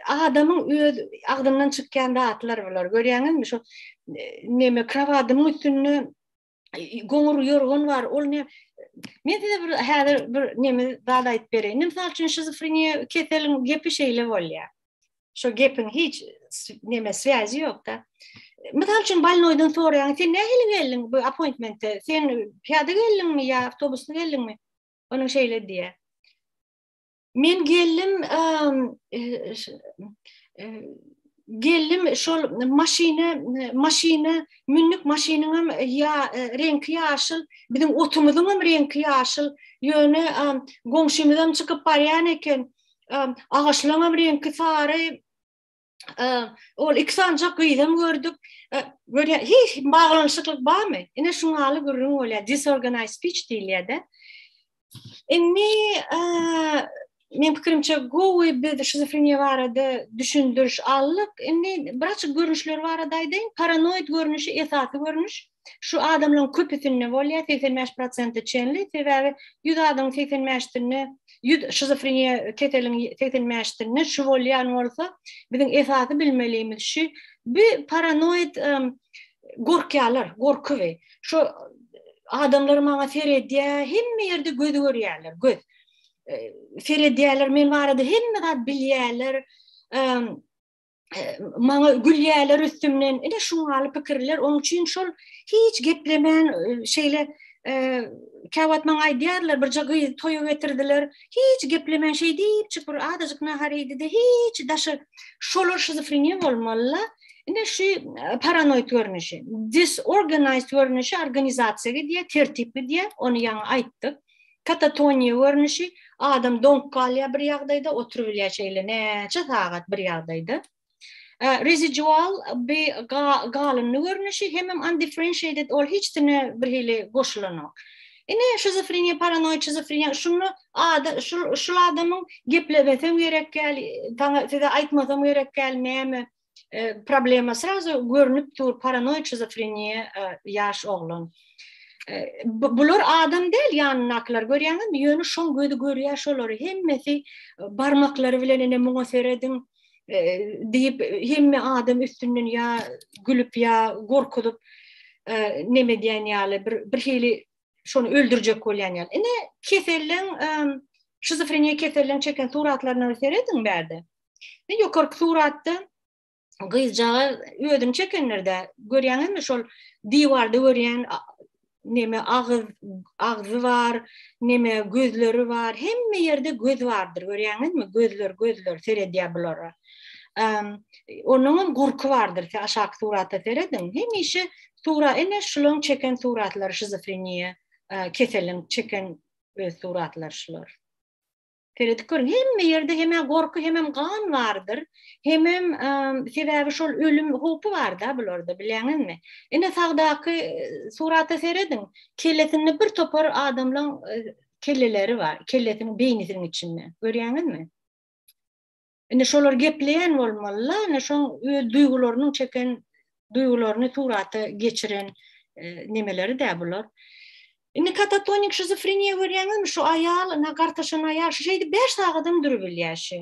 Adamyň öz agzyndan çykýan zatlar bular. Görýäňizmi, şu neme krowadymyň üstünde goňur ýorgan bar, ol ne Men size bir häzir bir nemi zat aýdyp bereýin. Mysal üçin şizofreniýa keseliň gepi şeýle bolýar. Şu gepiň hiç neme swýazi ýokda. Mysal üçin balnoýdan soraýan, sen nähili geldiň bu appointmente? Sen piýada geldiňmi ýa awtobusda geldiňmi? Onuň şeýle diýýär. Men geldim, geldim şol maşyny, maşyny mündik maşynyň hem ýa reňki ýaşyl, biziň otumyzyň hem reňki ýaşyl. Ýöne goňşymyz hem çykyp barýan eken, agaçlaryň hem reňki sary. ol iki sanjak gyzam gördük. Görä, hiç baglanyşyklyk barmy? Ine şu maly gürrüň bolýar. Disorganized speech diýilýär-de. Indi men pikirimçe gowy biz şizofreniýa barada düşündiriş aldyk. Indi biraz görnüşler barada aýdaýyn. Paranoid görnüşi esasy görnüş. Şu adamlaryň köpüsinde bolýar, 85 prosente çenli, sebäbi 100 adamyň 85 sinde, 100 şizofreniýa keseliň 85 sinde şu bolýan bolsa, biziň esasy bilmelimiz şu, bi paranoid gorkýarlar, gorky bi. Şu adamlar maňa seredýär, hemme ýerde göz görýärler, göz. Seredýärler, men barada hemme zat bilýärler. maňa gülýärler üstümden. Ine şuň ýaly pikirler, oň üçin şol hiç geplemän şeýle käwagt maňa aýdýarlar, birje gyz toýa getirdiler. Hiç geplemän şeý diýip, çyk bir adajyk nahar iýdi-de, hiç daşy şolar şizofreniýa bolmaly. Ine şu paranoid görnüşi, disorganized görnüşi organizasiýa gidýär, tertipli diýär, ony ýaňy aýtdyk. Katatoniýa görnüşi, adam doňup galýar bir ýagdaýda, oturybilýär şeýle näçe sagat bir ýagdaýda. Residual bi galyndy görnüşi, hemem undifferentiated, ol hiç dine bir hili goşulanok. Ine şizofreniýa, paranoid şizofreniýa, şunda ada şul adamyň geplemesem gerek däl, saňa size aýtmasam gerek däl näme, e, problema srazu görünüp dur paranoid şizofreniýa e, ýaş oglan. E, bular adam däl ýanyndakylar görýäňizmi? Ýöne şoň gözi görýär şolary hemmesi e, barmaklary bilen ene muňa serediň e, diýip hemme adam üstünden ýa gülüp ýa gorkuzyp e, neme diýen ýaly bir bir hili şony öldürjek bolýan ýaly. Ine keselliň e, şizofreniýa keselliň çeken suratlaryna serediň bärde. Indi ýokarky suratda gyzjagaz özüni çekenlerde görýäňizmi şol diwarda görýän neme agyz agzy bar, neme gözleri bar. Hemme ýerde göz bardyr. Görýäňizmi? Gözler, gözler seredýär bulara. Ehm, onuň hem gurky bardyr. Siz aşak surata serediň. Hemişe sura ene şularyň çeken suratlary şizofreniýa, e, keseliň çeken öz suratlary şular. Seredip görüň, hemme ýerde hem-ä gorky, hemem gan bardyr. Hemem, sebäbi şol ölüm howpy bar-da bularda, bilýäňizmi? Ine, sagdaky surata serediň, kellesinde bir topar adamlaň kelleleri bar, kellesiniň beýnisiniň içinde. Görýäňizmi? Indi şolar gepleýän bolmaly-la, ine şoň öz duýgularynyň çeken duýgularyny surata geçiren nemeleri-dä bular. Indi katatonik şizofreniýa görýäňizmi, şu aýal, ina gartaşan aýal, şu şeýdip bäş sagadam durup bilýär şi.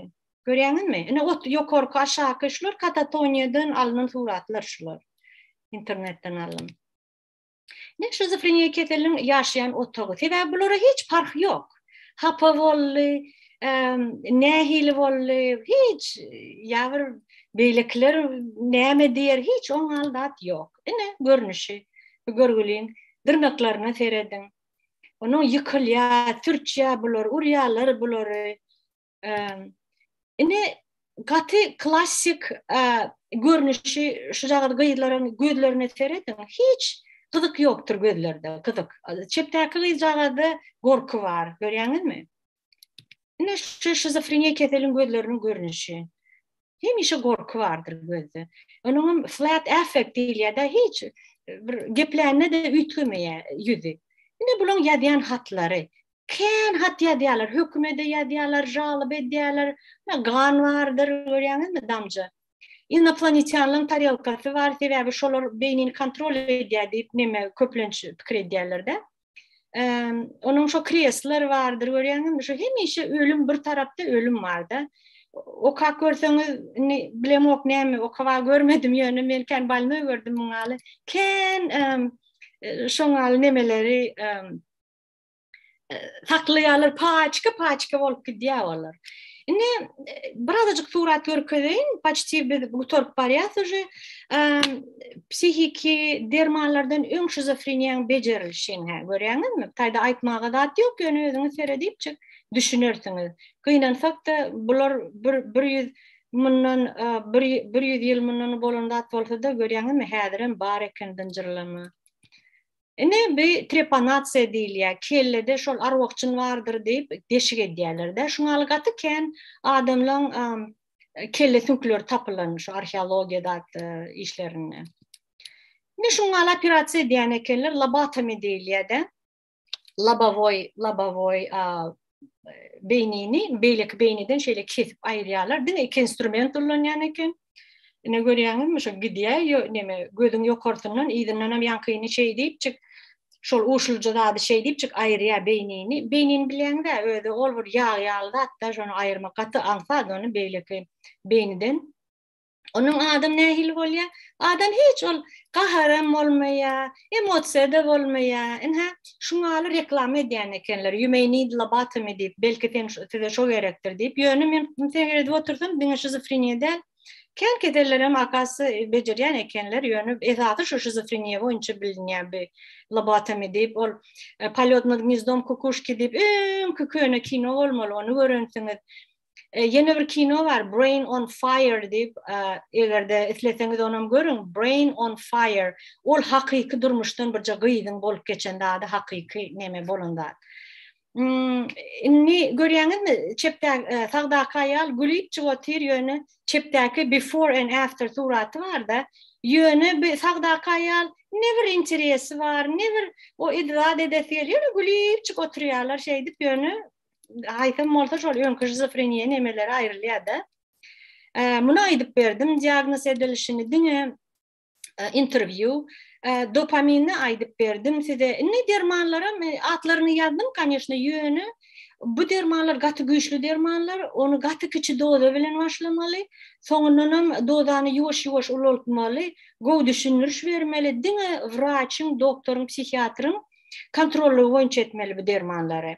Görýäňizmi? Ine ot ýokarky, aşaky şular katatoniýadan alnan suratlar şular. Internetden alyn. Ne şizofreniýa keseliniň ýaşaýan otagy. Sebäbi bulara hiç parh ýok. Hapa boldy, nähili boldy, hiç ýa bir beýlekiler näme diýer, hiç oň aldat ýok. Ine görnüşi. Bu görgüliň dyrnaklaryna serediň. Onuň ýykylýar, sürçýär bular, urýarlar bulary. Indi gaty klassik görnüşi şu jagat gyzlaryň gözlerine serediň. Hiç gyzyk ýokdur gözlerde, gyzyk. Çepdäki gyzjagazda gorky bar, görýäňizmi? Indi şu şizofreniýa keseliň gözleriniň görnüşi. Hemişe gorky bardyr gözde. Onuň hem flat affect diýilýär-de, hiç bir geplände-de üýtgemeýär ýüzi. Indi bulaň ýazýan hatlary, Kän hat ýazýarlar, hökümede ýazýarlar, žalyp edýärler. Ýa gan bardyr, görýäňizmi damja. Inoplonetýanlaryň tarelkasy bar, sebäbi şolar beýnini kontrol edýär diýip neme köplenç pikir edýärler-de. Onuň şo kresler bardyr, görýäňizmi, şu hemişe ölüm bir tarapda ölüm bar-da. Okap görseňiz, indi bilemok näme, okaba görmedim ýöne men kän balnoý gördüm muňa ýaly. Kän şoňa ýaly nemeleri saklaýarlar, paçka-paçka bolup gidýär olar. Indi e, birazajyk surat görkezeýin, paçti biz gutaryp barýas uje. Psihiki dermanlardan öň şizofreniýaň bejerilişini hä görýäňizmi? Taýda aýtmaga zat ýok, ýöne özüňiz seredipjik düşünersiňiz. Gynansak da bular bir bir ýüz mundan e, bir bir ýüz ýyl mundan bolan zat bolsa da görýäňizmi? Häzir hem bar eken dynjyrlama. Ine bi trepanasiýa diýilýär, kellede şol arwah-jyn bardyr diýip deşik edýärler-dä. Şuň aly gaty kän adamlaň kelle süňkleri tapylan şu arheologiýa zat işlerinde. Ine şuň aly operasiýa edýän ekenler, labatomi diýilýär-dä. Labowoý, labowoý beýnini beýleki beýniden şeýle kesip aýyrýarlar. Diňe iki instrument ulanýan eken. Ine görýäňizmi, şu gidýär ýo neme gözüň ýokarsyndan, yzyndan hem ýaňkyny şeý diýipjik, şol uşulja zady şeý diýipjik aýyrýar beýnini. Beýnini bilýäňiz-ä, özi ol bir ýag ýaly zat-da, şony aýyrmak gaty aňsat, ony beýleki beýniden Onuň adam nähili bolýar? Adam hiç ol gaharam bolmaýar, emosiýa da bolmaýar. Ine, şuňa ýaly reklama edýän ekenler. You may need lobotomy diýip, belki sen size şo gerekdir diýip. Ýöne men seredip otursam, diňe şizofreniýa däl, kän kesellerem akasy bejerýän ekenler. Ýöne esasy şu şizofreniýa boýunça bilinýär bu lobotomy diýip, ol e, Polýot nad gnizdom kukuşki diýip, öňki köne kino bolmaly, ony görensiňiz. E, ýene bir kino bar Brain on Fire diýip, e, egerde isleseňiz onam görüň. Brain on Fire. Ol hakyky durmuşdan birje gyzyň bolup geçen zady hakyky neme bolan zat. Hmm, indi görýäňizmi? Çepde e, sagdaky aýal gülüp çyk otyr ýöne çepdäki before and after suraty barda. Ýöne bu sagdaky aýal ne bir interesi bar, ne bir o idrat edesi gelýär, gülüp çyk oturýarlar şeýdip ýöne aýsam bolsa şol öňki şizofreniýa nemeleri aýrylýar-da. Muny aýdyp berdim, diagnoz edilişini diňe e, interwýu, e, dopaminni aýdyp berdim size. Indi dermanlaram e, atlaryny ýazdym, kanyýeşne, ýöne bu dermanlar gaty güýçli dermanlar, ony gaty kiçi doza bilen başlamaly, soňundan hem dozany ýuwaş-ýuwaş ulaltmaly, gowy düşündiriş bermeli, diňe wraçyň, doktoryň, psihiatryň kontrollygy boýunça etmeli bu dermanlary.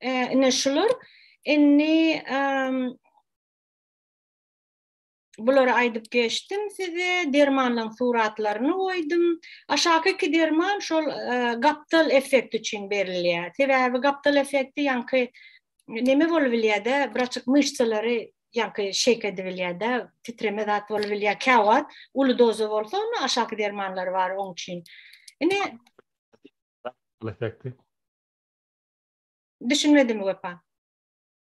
ine şular indi bulary aýdyp geçdim size dermanlaryň suratlaryny goýdum aşaky iki derman şol gapdal effekt üçin berilýär sebäbi gapdal effekti ýaňky neme bolup bilýärde bir açyk myşsalary ýaňky şeýk edip bilýärde titreme zat bolup bilýär käwagt uly doza bolsa onda aşaky dermanlar bar oň üçin indi effekti Düşünmedim Wepa.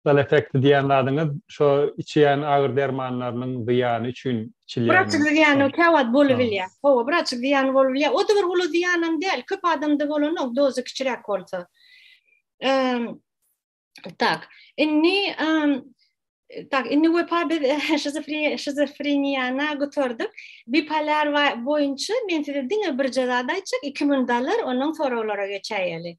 Sal effekti diýýän zadyňyz şo içýän agyr dermanlarynyň zyýany üçin içilýän. Biraçyk zyýany käwagt bolubilýär. Hawa, biraçyk zyýany bolubilýär. O-da bir uly zyýanam däl. Köp adamda bolanok, dozy kiçiräk bolsa. Tak. Indi Tak, indi Wepa biz şizofreniýana gutardyk. Bipolar boýunça men size diňe birje zat aýtjak, iki mün dalar, onuň soraglara geçäýeli.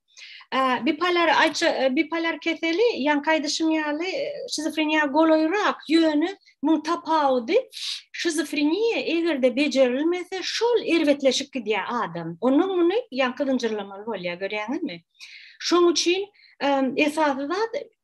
Bipolar aýtja, bipolar keseli, ýaňky aýdyşym ýaly, şizofreniýa golaýrak, ýöne muň tapawudy, şizofreniýa eger-de bejerilmese, şol erbetleşip gidýär adam. Onuň muny ýaňky zynjyrlamaly bolýar, görýäňizmi? Şoň üçin esasy zat,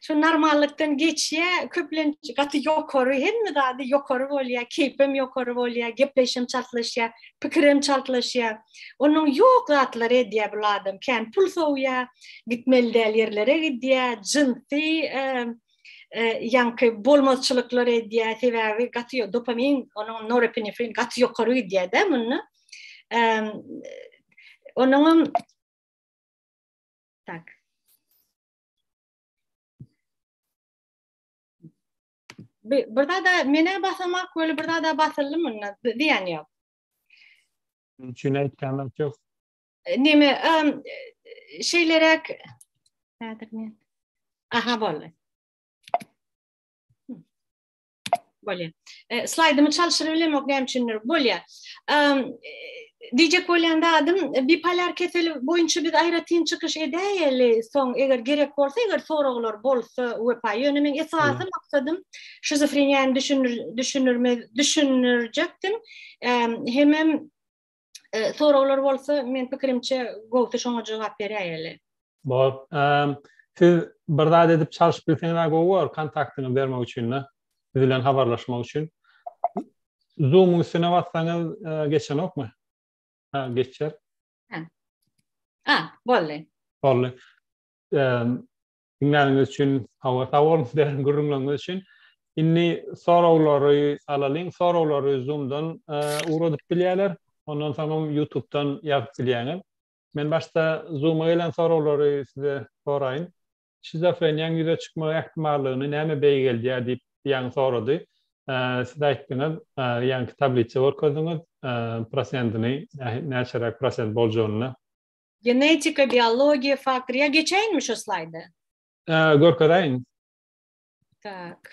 şu normallykdan geçýä, köplenç gaty ýokary, hemme zady ýokary bolýa, keýpem ýokary bolýa, gepleşim çaltlaşýa, pikirem çaltlaşýa. Onuň ýok zatlary edýä bu adam, kän pul sowýa, gitmeli däl ýerlere gidýä, jynsy e, e, ýaňky bolmazçylyklar edýä, sebäbi gaty dopamin, onuň norepinefrin gaty ýokary gidýä-de munda. Onuň Tak. Bir, bir daha da mene basamak böyle bir daha da basıldı mı? Diyen yok. Çünkü ekranlar çok. E, ne mi? Um, şeylerek... Aha, böyle. Bolýar. E, Slaýdymy çalşyryp bilemok näme üçindir. Bolýar. Diýjek bolýan zadym, e, bipolar keseli boýunça biz aýratyn çykyş edäýeli, soň eger gerek bolsa, eger soraglar bolsa, wepa. Ýöne men esasy maksadym şizofreniýany düşünür, düşünürme, düşünürjekdim. Hemem e, soraglar bolsa men pikirimçe gowsy şoňa jogap berýäýeli. Bol. Siz bir zat edip çalyşyp bilseňiz gowy bolar kontaktyňyzy bermek üçin de. Siz bilen habarlaşmak üçin. Zoom-yň üstüne bassaňyz e, geçenokmy? Ha, geçer. Ha. Ha, boldy. Boldy. Diňläniňiz üçin hawa sag boluň derin gürrüňleriňiz üçin. Indi soraglary alalyň. Soraglary Zoom-dan ugradyp bilýärler. Ondan soňam YouTube-dan ýazyp bilýäňiz. Men başda Zoom-a gelen soraglary size soraýyn. Şizofreniýaň ýüze çykmagy ähtimallygyny näme beýgeldýär diýip ýaňy sorady. Siz aýtdyňyz, ýaňky tablisa görkezdiňiz prosentini, näçeräk prosent boljagyny. Genetika, biologiýa faktory. Ýa geçäýinmi şu slaýdy? Ä, görkezäýiň. Tak.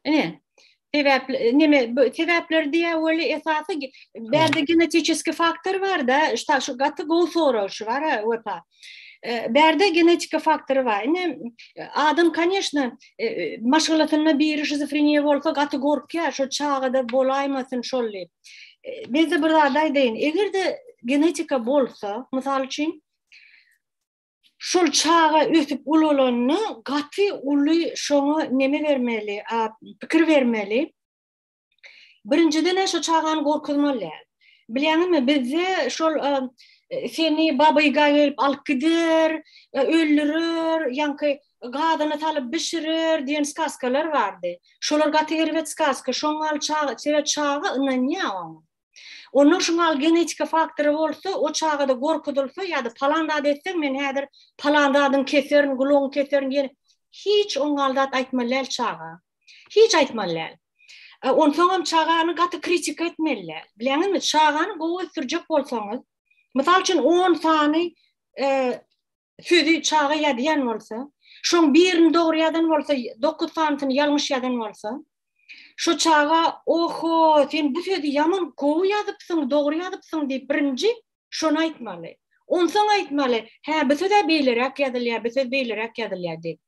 Ine, sebäp neme sebäpler diýä weli esasy bärde genetiki faktor bar-da, şu şu gaty gowy sorag şu bar wepa. Bärde genetiki faktor bar. Ine adam kanyşna maşgalasynda biri şizofreniýa bolsa gaty gorkýar, şu çagada bolaýmasyn şol diýip. Bizde bir zat aýdaýyn, eger-de genetika bolsa, mysal üçin, Şol çaga ösüp ulalanda gaty uly şoňa neme bermeli, pikir bermeli. Birinjiden-ä şo çagany gorkuzmaly däl. Bilýäňizmi, bizde şol seni babyga gelip alyp gider, öldürer, ýaňky gazyna salyp bişirer diýen skaskalar bardy. Şolar gaty erbet skaska. Şoňa gal çaga, sebäp çaga ynanýar oňa. Ondan şoň al genetika faktory bolsa, o çagada gorkudylsa ýa-da palan zat etseň, men häzir palan zadyň keserin, gulagyň keserin diýen hiç oňal zat aýtmaly däl çaga. Hiç aýtmaly däl. E, onsoň hem çagany gaty kritika etmeli däl. Bileňizmi, çagany gowy ösdürjek bolsaňyz, mysal üçin 10 sany e, sözi çaga ýazýan bolsa, şoň birini dogry ýazan bolsa, dokuz sanysyny ýalňyş ýazan bolsa, şo çaga oho, sen bu sözi ýaman gowy ýazypsyň, dogry ýazypsyň diýip birinji şony aýtmaly. Onsoň aýtmaly, hä bu söz-ä beýleräk ýazylýar, bu söz beýleräk ýazylýar diýip.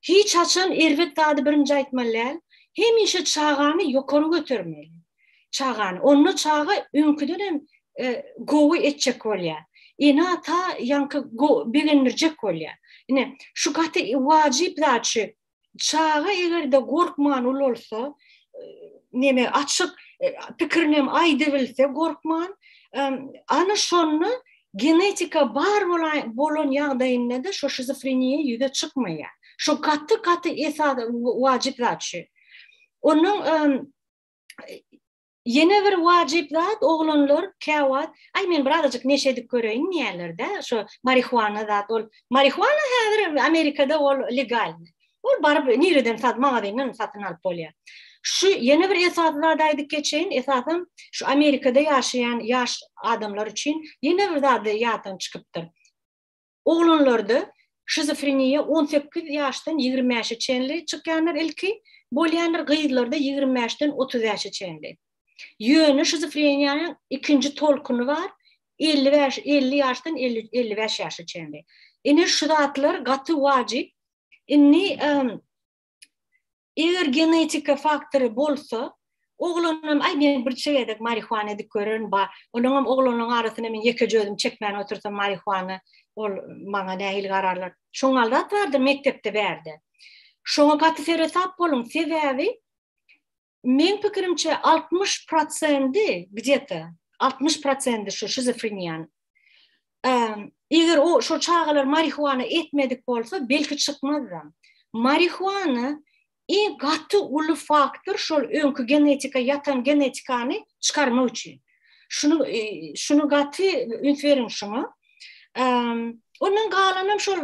Hiç haçan erbet zady birinji aýtmaly däl, hemişe çagany ýokary götermeli. Çagany, onda çaga öňküden hem gowy etjek bolýar. Ene-ata ýaňky begendirjek bolýar. Ine, şu gaty wajyp zat şu. Çaga eger-de gorkman ulalsa, neme, açyk pikirini hem aýdybilse gorkman, ana şonda Genetika bar bolan ýagdaýynda-da şo şizofreniýa ýüze çykmaýar. Şo gaty-gaty esas wajyp zat şu. Onuň ýene bir wajyp zat oglanlar käwagt, aý men birazajyk neşe edip göreýin diýýärler-de, şo marihuana zat ol. Marihuana häzir Amerikada ol legalny. Ol baryp nireden sat magazinden satyn alyp bolýar. Şu ýene bir esasy zady aýdyp geçeýin, esasan şu Amerikada ýaşaýan ýaş adamlar üçin ýene bir zady ýatdan çykypdyr. Oglanlarda şizofreniýa on sekiz ýaşdan ýigrimi bäşe çenli çykýandyr ilki, bolýandyr gyzlarda ýigrimi bäşden otuz bäşe çenli. Ýöne şizofreniýanyň ikinji tolkuny bar, elli bäş elli ýaşdan elli elli bäş ýaşa çenli. Ine şu zatlar gaty wajyp, Indi eger genetika faktory bolsa, oglanam aý men bir çegedek marihuana edip görerin ba, onuň hem oglanyň arasyna men ýeke jözüm çekmän otursam marihuana ol maňa nähili gararlar. Şoňa alat bardyr mekdepde bärde. Şoňa gaty seresap boluň, sebäbi Men pikirimçe 60 prosendi gdeta 60 prosendi şu şizofreniýan. Eger o şu çagalar marihuana etmedik bolsa belki çykmazda. Marihuana iň gaty uly faktor şol öňki genetika ýatan genetikany çykarmak üçin. Şunu e, şunu gaty üns beriň şuňa. Ondan galanam şol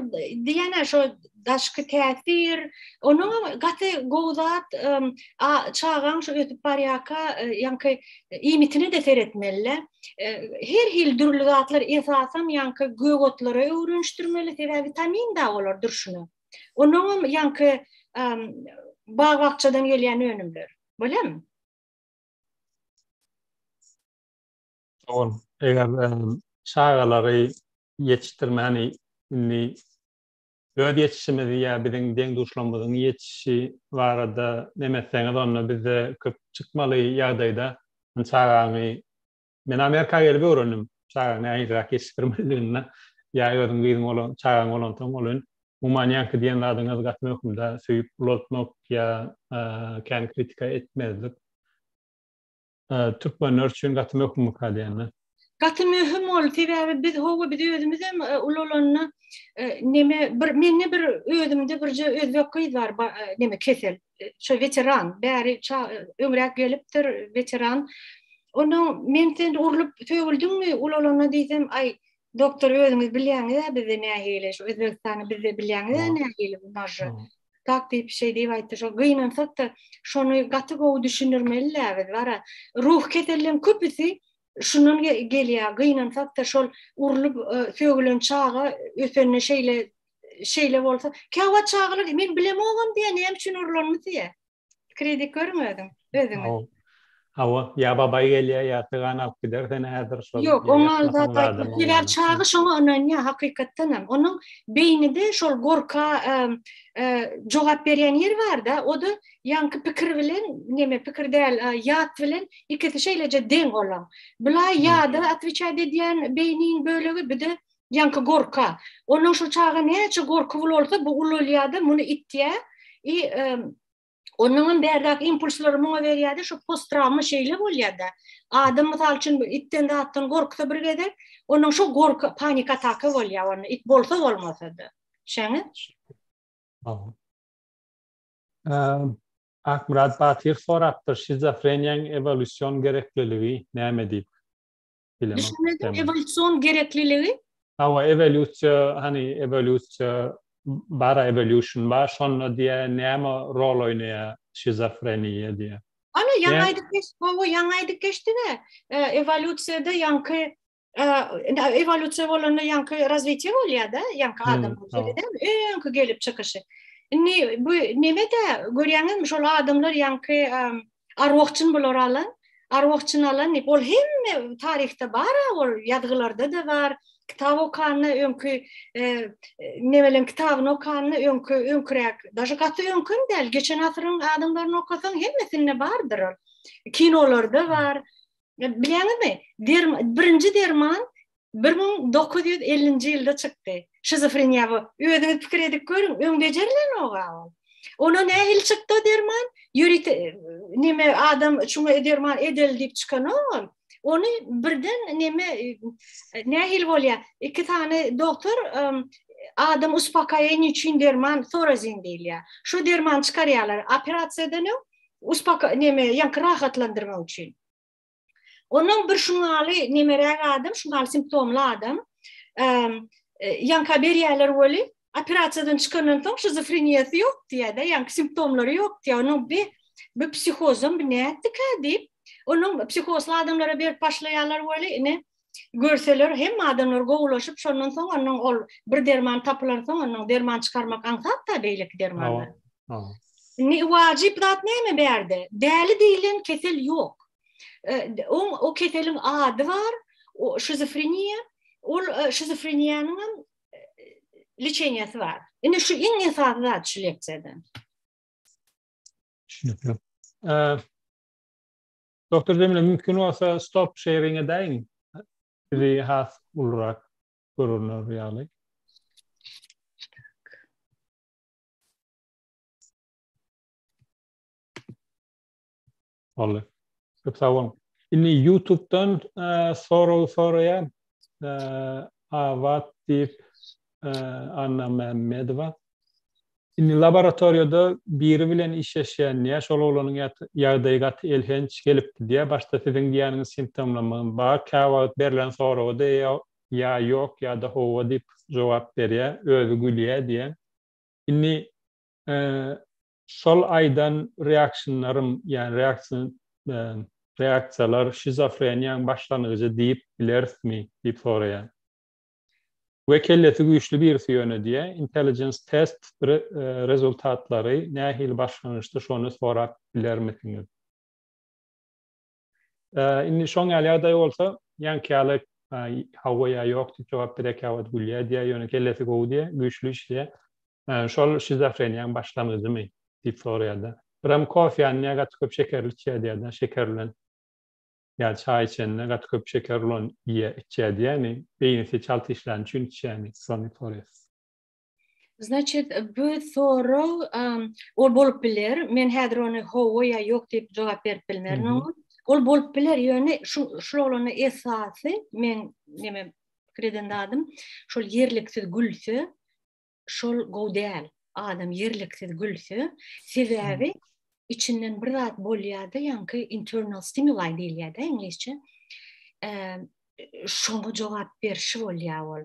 diýene şol daşky täsir, onuň gaty gowy zat, çagaň şu ötüp barýaka, e, ýaňky iýmitine de seretmeli. E, her hil dürli zatlar esasan ýaňky gök otlara öwrenişdirmeli, sebäbi vitamin da olar durşuna. Onuň hem ýaňky bag-bakjadan gelýän önümler. Bolýarmy? Dogan, eger çagalary ýetişdirmäni indi öz ýetişişimizi ýa biziň deň-duşlarymyzyň ýetişişi barada neme etseňiz, onda bizde köp çykmaly ýagdaýda çagaňy Men Amerika gelip öwrendim, çagaň nähiliräk ýetişdirmelidigini, ýa özüň gyzyň bolan, çagaň bolansoň ol ün, umuman ýaňky diýen zadyňyz gaty möhümdä, söýüp ulaltmak ýa kän kritika etmezlik türkmenler üçin gaty möhümmika diýende. Gaty möhüm ol, sebäbi biz hawa biz özümizem ulalanda neme bir mende bir özümde birje özbek gyz bar neme kesel. şu veteran bäri öňräk gelipdir veteran onda men sen urlup sögüldinmi ulalana diýsem aý doktor özüňiz bilýäňiz bizde nähili şu özbegistany bizde bilýäňiz nähili bu naža tak diýip şey diýip aýtdy şo gynansak da şony gaty gowy düşündirmeli biz bara ruh keselleriň köpüsi Şundan gelýär, gynansak-da şol urlup sögülen çaga ösende şeýle şeýle bolsa, käwagt çagalar diýýär, men bilemogam diýýär, näme üçin urulanyny diýýär. Pikir edip görüň özüň, özüňiz. Hawa, ýa babaý gelýär, ýa sygan alyp gider seni häzir şol. Ýok, oňa sebäp çaga şoňa ynanýar hakykatdan hem. Onuň beýnide şol gorka jogap berýän ýeri bar-da, o-da ýaňky pikir bilen neme pikir däl ýat bilen ikisi şeýleje deň ola bula ýada atwiçaýt edýän beýniň bölegi bide ýaňky gorka onuň şu çaga näçe gorky bul bolsa bu ulalýada muny itýä i onuňam bärdäki impulslary muňa berýäde şu postrawma şeýle bolýada adam mysal üçin itden zatdan gorksa bir gezek onuň şu gorka panik ataka bolýa ony it bolsa bolmasada şeňe Akmyrat Batyr sorapdyr, Şizofreniýaň ewolýusion gerekliligi näme diýip? Bilemok. Düşünmedim, ewolýusion gerekliligi? Hawa, ewolýusiýa, hany ewolýusiýa bar-a, evolution bar, şonda diýýär, näme rol oýnaýar şizofreniýa diýýär. Hany, ýaňy aýdyp geçdik, hawa, ýaňy aýdyp geçdik-ä, ewolýusiýada ýaňky Ewolýusiýa bolanda ýaňky razwitiýa bolýar-da, ýaňky adam bolýar-da, öňki gelip çykyşy. Indi bu neme-de görýäňizmi, şol adamlar ýaňky arwahçyn bular alan, arwahçyn alan diýip, ol hemme taryhda bar-a, ol ýazgylarda-da bar, kitap okanda öňki nebelem kitabyny okanda öňki öňküräk, daşy gaty öňki hem däl, geçen asyryň adamlaryny okasaň hemmesinde bardyr ol. Kinolarda bar. Bilýäňizmi? Birinji derman 1950-nji ýylda çykdy. Şizofreniýa bu. Özüňiz pikir edip görüň, öň bejerilenok-a ol. Ona nähili çykdy o derman? Ýörite näme adam şuňa derman edeli diýip çykanok ol. Ony birden näme nähili bolýar? Iki sany doktor adam uspokayeniýa üçin derman sorazin diýilýär. Şu dermany çykarýarlar operasiýadan öň, uspoko neme ýaňky rahatlandyrmak üçin. Onuň bir şuňaly nemeräk adam, şuňaly simptomly adam e, ýaňka berýärler weli operasiýadan çykandan soň şizofreniýasy ýok diýýär-de, ýaňky simptomlary ýok diýýär. Onuň bir bir psihozam bir nätdikä diýip, onuň psihozly adamlara berip başlaýarlar weli, ine görseler hemme adamlar gowulaşyp şondan soň onuň ol bir derman tapylan soň onuň derman çykarmak aňsat da beýleki dermanlar. Ne wajyp zat näme bärde? Däli diýilen kesel ýok. E, o, o keseliň ady bar, o şizofreniýa, ol e, şizofreniýanyň hem e, liçeniýasy bar. Indi şu iň esasy zat şu leksiýada. Düşünüpli. Doktor Zemle mümkin bolsa stop sharing edeýin. Bizi has ulurak görünür ýaly. Olly. Köp sag boluň. Indi YouTube-dan e, sorag soraýan e, Abat diýip e, Anna Mämmedowa. Indi laboratoriýada biri bilen işleşýän diýýär, şol oglanyň ýagdaýy gaty elhenç gelipdi diýýär, başda siziň diýýäniňiz simptomlamyň bar, käwagt berlen soraga-da ýa ýok ýa-da hawa diýip jogap berýär, özi gülýär diýýär. Indi şol aýdan reakşnlarym, ýagny reaksion reaksiýalar şizofreniýaň başlangyjy diýip bilerismi diýip soraýar. we kellesi güýçli birisi ýöne diýe intelligence test rezultatlary nähili başlangyçdy şony sorap bilermisiňiz indi şoň ýaly ýagdaý bolsa ýaňky ýaly hawa ýa ýok diýip jogap berekä wagt gülýä diýe ýöne kellesi gowy diýe güýçli işleýä şol şizofreniýaň başlangyjymy diýip soraýada biram kofe ýa gaty köp şekerli içýä diýäda şeker bilen Ýa çaý içende gaty köp şeker bolan iýýä, içýä diýýämi, beýnisi çalt işlän üçin içýämi, Sony Torres. Значит, bu sorag ol bolup biler. Men häzir ony hawa ýa ýok diýip jogap berip bilmerin oňa. Ol bolup biler, ýöne şu şul oglana esasy men neme pikir eden zadym, şol ýerliksiz gülse, şol gowy däl. Adam ýerliksiz gülse, sebäbi içinden bir zat bolýar-da, ýaňky internal stimuli diýilýär-de iňlisçe. Şoňa jogap berşi bolýar ol.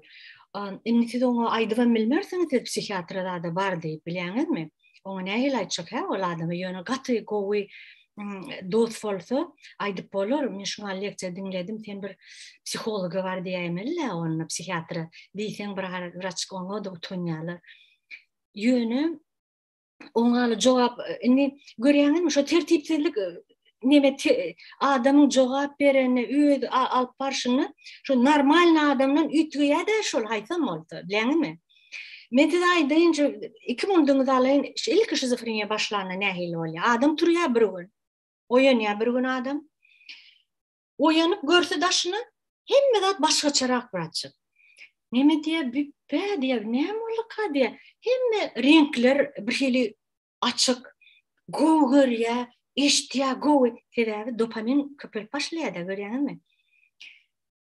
Indi siz oňa aýdyp hem bilmersiňiz, siz psihiatra zada bar diýip, bilýäňizmi? Oňa nähili aýtjak hä ol adama? Ýöne gaty gowy dost bolsa aýdyp bolar. Men şuňa lekçe diňledim. Sen bir psihologa bar diýäýmeli-le onda psihiatra. Diýseň bir wraç oňa da utanýarlar. Ýöne oňa jogap indi görýäňizmi şu tertipsizlik neme adamyň jogap berenine öz alyp barşyna şu normalny adamdan üýtgeýädä şol haýsam bolsa bileňimi men size aýdaýyn şu iki munduňyzy alaýyn ilki şizofreniýa başlanda nähili bolýar adam turýar bir gün oýanýar bir gün adam oýanyp görse daşyna hemme zat başgaçarak braçyk neme diýär büpbe diýär näme bolduka diýär hemme reňkler bir hili açyk, gowy görýär, eşitýär gowy, sebäbi dopamin köpelip başlaýar-da, görýäňizmi?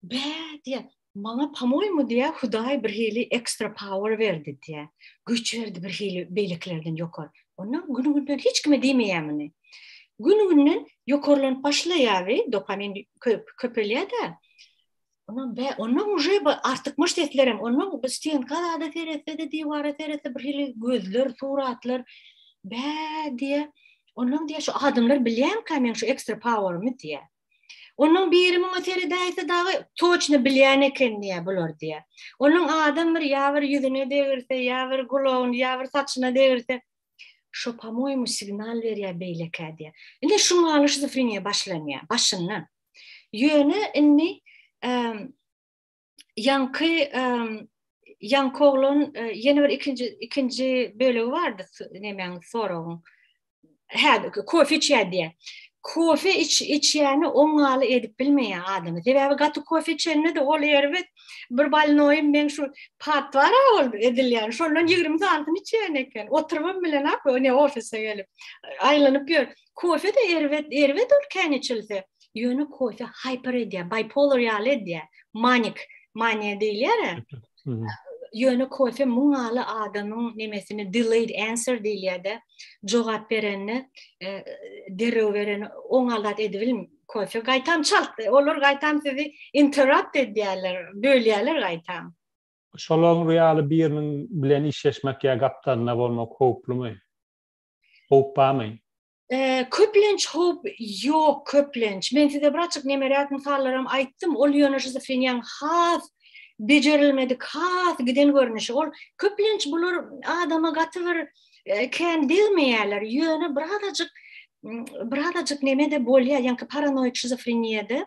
Bä diýýär, maňa pomoýmu diýýär, Hudaý birhili ekstra power berdi diýýär, güýç berdi birhili beýlekilerden ýokary. Onda gün-günden hiç kime diýmeýär muny. Gün-günden ýokarlanyp başlaýar we dopamin köpelýär-de, Ondan be, ondan uje artykmaç sesler hem, ondan biz tenka zada seretse de, divara seretse bir hili gözler, suratlar, be diye, ondan diye şu adamlar bilýän ka men şu extra power mi diye. Ondan biri muňa seredäýse dagy toçny bilýän eken diye bular diye. Ondan adam bir ýa bir ýüzüne degirse, ýa bir gulagyny, ýa bir saçyna degirse, şu pamoýmy signal berýär beýlekä diye. Indi şu maly şizofreniýa başlanýar, başyndan. Ýöne indi ýaňky ýaňky oglan e, ýene bir ikinji ikinji bölegi bardy nemäň soragyň. Hä, kofe içýär diýýär. Kofe iç içýäni oňaly edip bilmeýär adamy. Sebäbi gaty kofe içende de ol erbet bir balnoýum men şu pat bar ol edilýän. Şondan 20 santyny içýän eken. Oturyp bilen ak, ne ofise gelip. Aýlanyp ýör. Kofe de erbet, erbet ol kän içilse. Ýöne kofe hyper edýär, bipolar ýaly edýär. Manik, maniýa diýilýär-ä. Ýöne kofe muňaly adamyň nemesini delayed answer diýilýär-de, jogap berende e, derrew bereni oň alat edibilim kofe. Gaýtam çalt, olar gaýtam sizi interrupt edýärler, bölýärler gaýtam. Şolaryň ýaly biriniň bilen işleşmek ýa gapdalynda bolmak howplumy? Howp barmy? Köplenç howp ýok, köplenç. Men size bir açyk nemeräk mysallaram aýtdym. Ol ýöne şizofreniýaň has bejerilmedik, has giden görnüşi. Ol köplenç bular adama gaty bir kän degmeýärler. Ýöne bir azajyk bir azajyk neme-de bolýar, ýaňky paranoid şizofreniýada.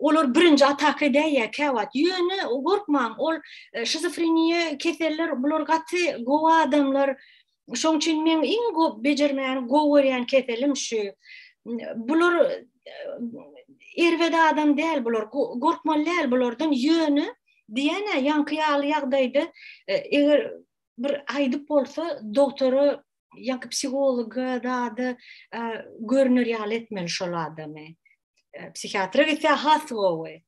olar birinji ataka edäýýär käwagt. Ýöne gorkmaň, ol e, şizofreniýa keseller, bular gaty gowy adamlar. Şoň üçin men iň gowy bejermäni gowy görýän keselim şu. Bular e, erbet adam däl bular, gorkmaly däl bulardan. Ýöne diýene ýaňky ýaly ýagdaýda e, eger bir aýdyp bolsa doktora ýa-da psihologa zada e, görner ýaly etmeli şol adamy. E, psihiatra gitse has gowy.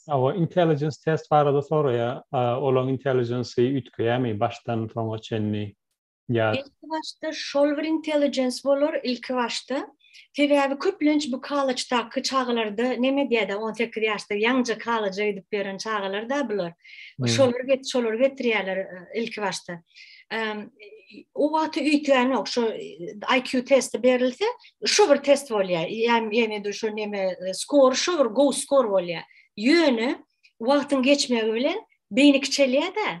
Awa intelligence test barada soraýa, e, olaň intelligence-i üýtgeýärmi başdan soňa çenli? Ýa. Ilki başda Solver Intelligence bolar ilki başda. Sebäbi köplenç bu kalaçdaky çagalarda neme edýädä on sekiz ýaşda ýaňja kalaja gidip ýören çagalarda bular. Şolary get şolary getirýäler ilki başda. O wagty üýtgänok şu IQ testi berilse şu bir test bolýar. Ýa-ýa dur şu neme skor şu bir go skor bolýar. Ýöne wagtyň geçmegi bilen beýni kiçelýädä.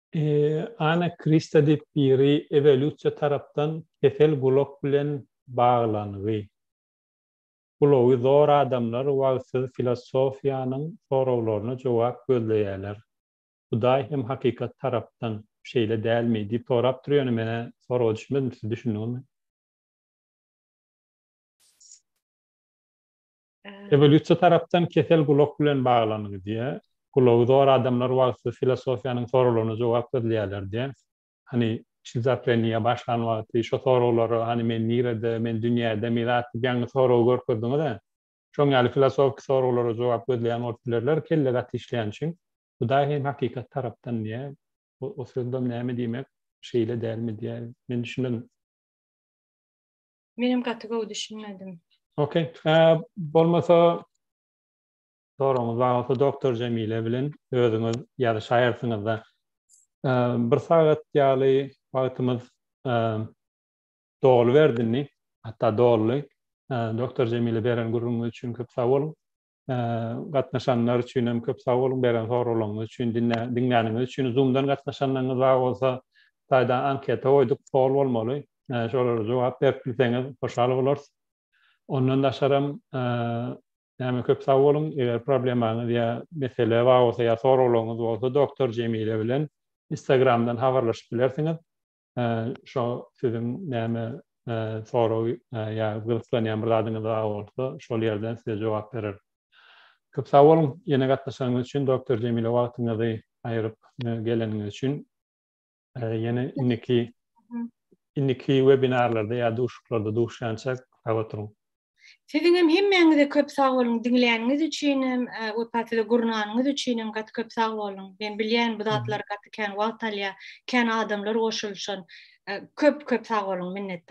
Ana Krista diýip biri ewolýusiýa tarapdan kesel gulak bilen baglangy. Gulagy zor adamlar wagtsyz filosofiýanyň soraglaryna jogap gözleýäler. Hudaý hem hakykat tarapdan, şeýle dälmi? diýip sorap dur ýöne menä soraga düşmedim siz düşündiňizmi? Ewolýusiýa tarapdan kesel gulak bilen baglanygy diýýär. Gulagy zor adamlar wagtsyz filosofiýanyň soraglaryna jogap gözleýärler diýýär. Hany, şizofreniýa başlan wagty şo soraglara, hany men nirede, men dünýädemi zatdyk ýaňy soragy görkezdiňiz-ä. Şoň ýaly filosofiki soraglara jogap gözleýän bolup bilerler, kelle gaty işleýän üçin. Hudaý hem hakykat tarapdan diýýär. O sözlem näme diýmek, şeýle dälmi diýýär. Men düşünmedim. Menem gaty gowy düşünmedim. Okey. Ee, bolmasa soragyňyz bar bolsa doktor Jemile bilen özüňiz ýa-da şaýarsyňyzda ee, bir sagat ýaly wagtymyz ee, doly berdini, hatda doly. Ee, doktor Jemile beren gürrüňiňiz üçin köp sag boluň. gatnaşanlar üçin hem köp sag boluň beren soraglaryňyz üçin diňläniňiz üçin zoomdan gatnaşanlaryňyz bar bolsa taýdan anketa goýduk pol bolmaly şolara jogap berip bilseňiz hoşal bolarys ondan daşaram näme köp sag boluň eger problemaňyz ýa mesele bar bolsa ýa soraglaryňyz bolsa doktor jemile bilen instagramdan habarlaşyp bilersiňiz Şo siziň näme sorag ýa gyzyklanýan bir zadyňyz bar bolsa, şol ýerden size jogap berer. Köp sag boluň ýene gatnaşanyňyz üçin Doktor Jemile wagtyňyzy aýyryp geleniňiz üçin. Ýene indiki indiki webinarlarda ýa duşuklarda duşýançak sag oturyň. Siziňem hemmäňize köp sag boluň diňläniňiz üçinem we patyda gurnanyňyz üçinem gaty köp sag boluň. Men bilýän bu zatlar gaty kän wagt alýar, kän adamlar goşulyşan. Köp köp sag boluň minnetdar.